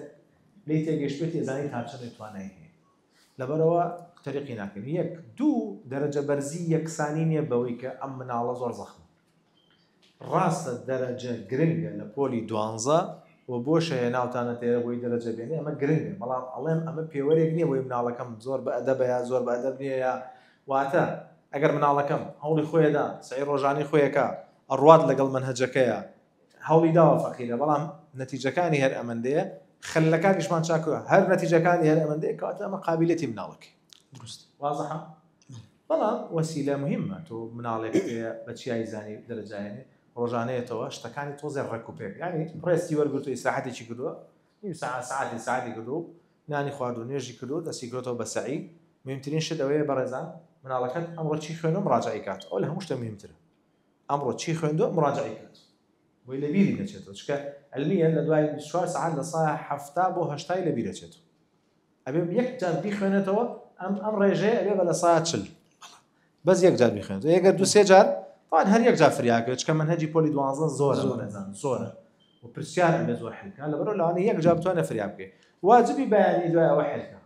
لی تێگەشتێتی زانی تاچەێت توانای هەیە لەبەرئەوە تەریقی ناکەین یەک دوو دەرەجە بەرزی یەکسانی نییە بەوەی کە ئەم مناڵە زۆر زەخمە ڕاستە دەرەجە گرنگە لە پۆلی دوانزە و بۆ شەیە ناوتانە تێرە بۆی دەرەجە بێنێ ئەمە گرنگە بەڵام ئەڵێم ئەمە پێوەرێک نییە بۆی مناڵەکەم زۆر بە ئەدەبە یا زۆر بە ئەدەب نییە یا واتە ئەگەر مناڵەکەم هەوڵی خۆیدا سعی ڕۆژانی خۆیەکە ئەڕوات لەگەڵ منهجەکەیە هەوڵی داوە فەقیرە بەڵام نەتیجەکانی هەر ئەمەندەیە خەلەکانیشمان چاکوە هەر نەتیجەکانی هەر ئەمەندەیە کەواتە ئەمە قابلێتی مناڵەکەی دروست وازحە بەڵام وەسیلە مهمە تۆ مناڵێک بە چیای زانی دەرەجاێنێ ڕۆژانەیەتەوە شتەکانی تۆزێ ڕێک و پێک ینی ڕێستی وەرگرتو ئیسراحەتێکی کردووە نیم سا ساعتی ساعتی کردو نانی خوارد و نوێژی کردو دەستی گرۆتەوە بە سەعی مهمترین شت ئەوەیە بەڕێزان مناڵەکەت ئەمڕۆ چی خوێنم ڕاجعی کات ئەو لە هەموو شتە مهمترە ئەمڕۆ چی خوێندوە مراجعەی کات بۆی لەبیری نەچێتەوە چونکە علمیە لەدوای بیست و چوار سەعات لە سایە حەفتا بۆ هەشتای لەبیرە چێتەوە ئەبێ یەک جار بیخوێنێتەوە ئەم ئەم ڕێژەیە ئەبێ بە لە سایە چل بەس یەک جار بیخوێنێتەوە یەگەر دو سێ جار طبعا هەر یەک جار فریاکە چکە من هەجی پۆلی دوازە زۆرە بەڕێزان زۆرە و پرسیار ئەبێ زۆر حلکە لەبەرەوە لەوانەیە یەک جار بتوانێت فریابکەی واجبی بەیانی دوای ئەوە حلکە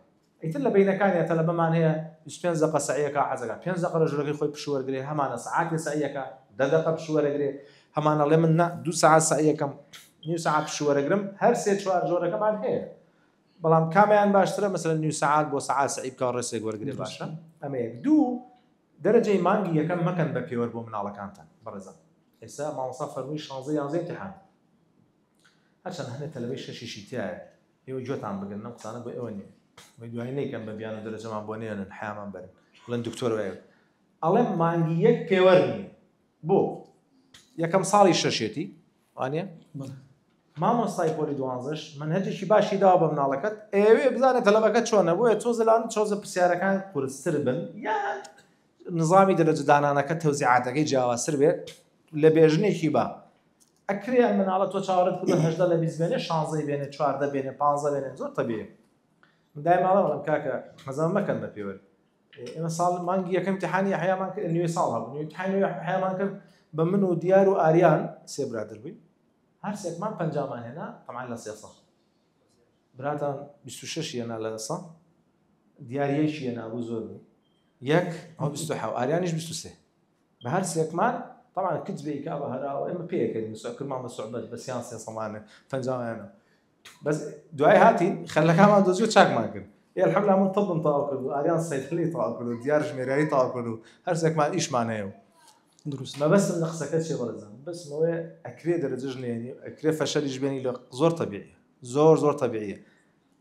ئیتر لە بەینەکانیا تەلەبەمان هەیە بیست و پێنج دەقە سەعی ئەکا حەز ئەکا پێنج دەقە لە ژورەکەی خۆی پشوو وەرگرێ هەمانە سەعاتێ سەعی ئەکا دە دەقە پشوو وەرەگرێ هەمان ئەڵێ من نا دوو سەعات سەعی ئەکەم نیو سەعات پشوو وەرەگرم هەر سێ چوار جۆرەکەمان هەیە بەڵام کامیان باشترە مەسەلەن نیو سەعات بۆ سەعات سەعی بکا ڕێسێک وەرگرێ باشە ئەمە یەک دوو دەرەجەی مانگی یەکەم مەکەن بە پێوەر بۆ مناڵەکانتان بەڕێزم ئێستا مامۆستا فەرمووی شانزە یانزەی امتحان هەرچەند هەنێ تەلەبەی شەشیشی تایە ئێوە گوێتان بگرن ئەم قسانە بۆ ئێوە نیە وەی دوایی نەیکەن بە بیانوو دەرەجەمان بۆ نێنن حەیامان بەرن بڵێن دکتۆر وایە ئەڵێم مانگی یەک پێوەر نیە بۆ یەکەم ساڵی شەشێتی وانە مامۆستای پۆلی دوانزش من هەجێکی باشی داوا بە مناڵەکەت ئێوێ بزانە تەلەبەکە چۆنە بۆیە تۆ زلان چۆزە پرسیارەکان قورستر بن یان نظامی دەرەجدانانەکە تەوزیعاتەکەی جیاوازتر بێت لە بێژنێکی بە ئەکرێ ئەم مناڵە تۆ چاوەڕێت کردوە هەژدە لە بیست بێنێ شانزەی بێنێ چواردە بێنێ پانزە بێنێ زۆر تەبیە من دای ماڵە بەڵم کاکە مەزەمە مەکەن بە پێوەر ئێمە ساڵ مانگی یەکەم تحانی حیامان کرد نوێ ساڵ هەبوو نوێ تحانی حیامان کرد بە من و دیار و ئاریان سێ برادر بووین هەر سێکمان پەنجامان هێنا تەمان لە سێ ساڵ براتان 26 یەنا لە سا دیارەکی یەنابوو زۆر بوو یەک ئەو 20 ئاریانیش 23 بە هەر سێکمان طبعا کچ بێ کابە هەراوە ئێمە پێکەین سەکر مامە سوعبەت بە سیان سێ سەمانە پەنجاوانە بەس دوای هاتین خەلەکانمان دۆزیۆ چاکمان کرد ئێ الحمدلله من طبم تەواو کرد و ئاریان سەیفلی تەواو کرد و دیار ژمێریاری تەواو کرد و هەر سێکمان ئیشمان هەیە و دروست مە بەسم لە قسەکە چێ بەڕێزان بەسمەوەی ئەکرێ دەرەجەش نێنی ئەکرێ فەشەلیش بێنی لە زۆر تەبیعیە زۆر زۆر تەبیعیە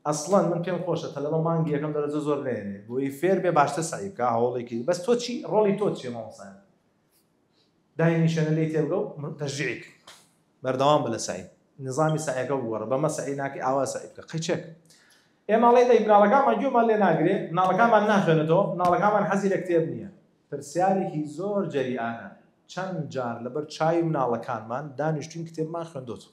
ئەسڵەن من پێم خۆشە تەلەبە مانگی یەکەم دەرەجە زۆر نەیەنێ بۆی فێر بێ باشتر سەعی بکا هەوڵی کردی بەس تۆ چی ڕۆڵی تۆ چیە مامۆستا دای نیشێنە لێی تێبگە و تەشجیعی کە بەردەوام بە لە سەعی نظامی سەعیەکە بگۆڕە بەمە سەعی ناکەی ئاوا سەعی بکە قەیچێک ئێمەڵێ دەی مناڵەکانمان گوێمان لێ ناگرێ مناڵەکانمان ناخوێنێتەوە مناڵەکانمان حەزی لە کتێب نییە پرسیارێکی زۆر جەریانە چەند جار لەبەر چاوی مناڵەکانمان دانیشتوین کتێبمان خوێندۆتەوە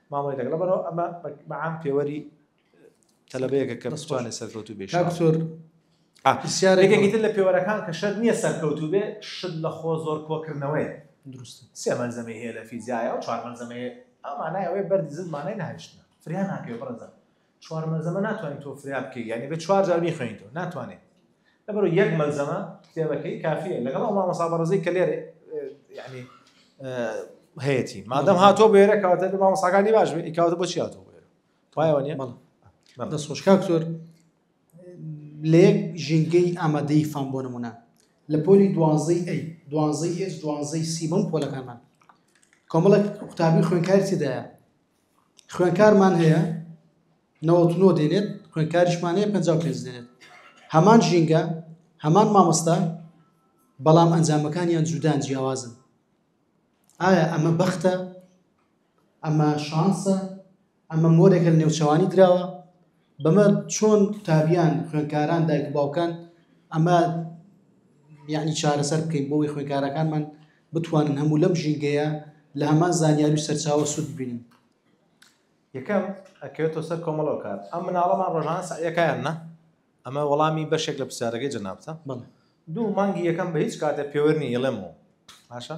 مامەڵەی دەکەن لەبەرەوە ئەمە بە عام پێوەری تەلەبەیەکە کە بتوانێت سەرکەوتوو بێت کاک سۆر یەکێکی تر لە پێوەرەکان کە شەرت نییە سەرکەوتوو بێ شت لە خۆ زۆر کۆکردنەوەیە دروستە سێ مەلزەمەی هەیە لە فیزیایە و چوار مەلزەمەی هەیە ئەو مانای ئەوەیە بەردی زل مانای نەهێشتنە فریا ناکەوێت بەڕێزان چوار مەلزەمە ناتوانین تۆ فریا بکەی یعنی بە چوار جار بیخوێنیتەوە ناتوانێت لەبەرو یەک مەلزەمە کتێبەکەی کافیە لەگەڵ ئەو مامۆستا بەڕزی کە لێرە یعنی هەیەتی مادەم هاتۆ بێرە کەواتە بە مامۆساکانی باش بێ ئیکاوتە بۆ چیاتۆ بێرە پایەوە نیە دەست خۆشکا کتۆر لە یەک ژینگەی ئامادەی فام بۆ نمونە لە پۆلی دوازەی ئەی دوازەی ئێس دوازەی سیبم پۆلەکانمان کۆمەڵک قوتابی خوێنکارتیدایە خوێنکارمان هەیە نەوەت و نۆ دێنێت خوێنکاریشمان هەیە پەنجا و پێنج دێنێت هەمان ژینگە هەمان مامۆستا بەڵام ئەنجامەکانیان جودان جیاوازن ئایا ئەمە بەختە ئەمە شانسە ئەمە مۆرێکە لە نێوچەوانی دراوە بەمە چۆن قوتابیان خوێندکاران دایک و باوکان ئەمە یعنی چارەسەر بکەین بۆی خوێندکارەکانمان بتوانن هەموو لەم ژینگەیە لە هەمان زانیاری و سەرچاوە سوود ببینن یەکەم ئەکەوێتەوە سەر کۆمەڵەوە کار ئەم مناڵەمان ڕۆژانە سعیەکەیان نە ئەمە وەڵامی بەشێک لە پرسیارەکەی جەنابتە دوو مانگی یەکەم بە هیچ کاتێ پێوەرنی ئێڵێمەوە باشە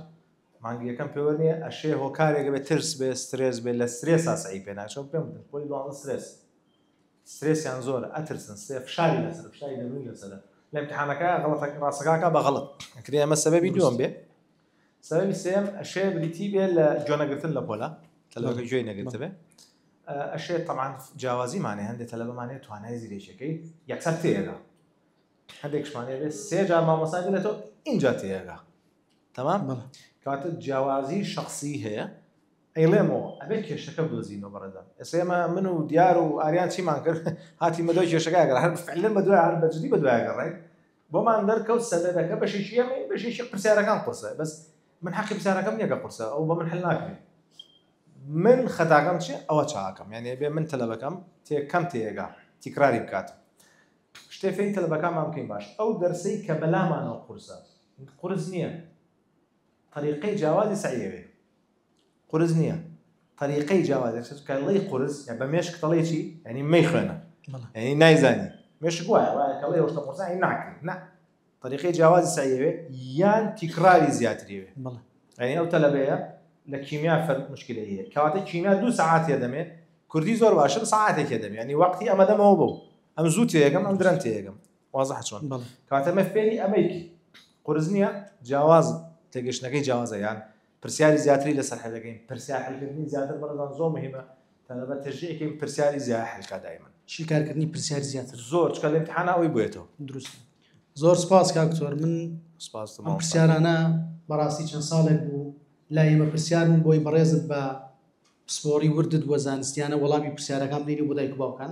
مانگی یەکەم پێوە نیە ئەشێ هۆکارێک بێت ترس بێ سترێس بێ لە سترێسا سعی پێ ناچۆم پێم بدن خۆی دوازدە سترێس سترێسیان زۆر ئەترسن سێ فشاری لەسەر فشاری دەروونی لەسەرە لە امتحانەکە غەڵەتە ڕاستەکاکە بە غەڵەت ئەکرێ ئەمە سەبەبی دووەم بێ سەبەبی سێم ئەشێ بریتی بێ لە جۆنەگرتن لە پۆلا تەلەوەکە گوێی نەگرتە بێ ئەشێ تەمان جیاوازیمانێ هەندێک تەلەبەمانێت توانای زیرێکەکەی یەکسەر تێگە هەندێکشمانێ بێ سێ جار مامۆسای بێتەوە اینجا تێگە تەمام بەڵێ کەواتە جیاوازی شەخسی هەیە ئەیڵێمەوە ئەبێ کێشەکە بدۆزینەوە بەڕێزان ئێستا ئێمە من و دیار و ئاریان چیمان کرد هاتیمە دوای کێشەکە گەڕ هەر فعلا بە دوای هەر بەجدی بە دوای گەڕێ بۆمان دەرکەوت سەدەکە بەشێکی ئەمە بەشێکی پرسیارەکان قورسە بەس من حەقی پرسیارەکەم نییە کە قورسە ئەو بە من حل ناکرێت من خەتاکەم چێ ئەوە چاکەم یعنی بێ من تەلەبەکەم تێ کەم تێگا تیکراری بکات شتێ فێی تەلەبەکانمان بکەین باش ئەو دەرسەی کە بەلامانەوە قورسە قورس نیە طریقەی جاوازی سەعی ئەوێ قورس نیە طریقەی جاوازی سەعی کە ڵی قورس یا بە مێشک تەڵێ چی یعنی مەی خوێنە یعنی نایزانی مێشک وایە وایە کە ڵێ وەشتە قورسە یعنی ناکرێ نا طریقەی جاوازی سەعی ئەوێ یان تیکراری زیاتری ئەوێ یعنی ئەو تەلەبەیە لە کیمیا فەرق مشکلە هەیە کەواتە کیمیا دوو سەعات هەیە دەمێ کوردی زۆر باشە ساعتێک هەیە دەمێ یعنی وەقتی ئەمە دەمەوە بۆ ئەم زوو تێگەم ئەم درەن تێگەم وازحە چۆن کەواتە مە فێری ئەمەی کی قورس نیە جیاواز تێگەشتنەکەی جیاوازە یان پرسیاری زیاتری لەسەر حل دەکەین پرسیار حلکردنی زیاتر بەڕێزان زۆر مهمە تەلەبە تەژیەکەی پرسیاری زیای حلکا دایمن شیکارکردنی پرسیار زیاتر زۆر چکە لە امتحانا ئەوی بێتەوە دروست زۆر سپاس کاکتۆر من سپاس ئەم پرسیارانە بەڕاستی چەند ساڵێک بوو لا ئێمە پرسیارن بۆی بەڕێزت بە پسپۆڕی وردت وە زانستیانە وەڵامی پرسیارەکان بینی بۆ دایک باوکان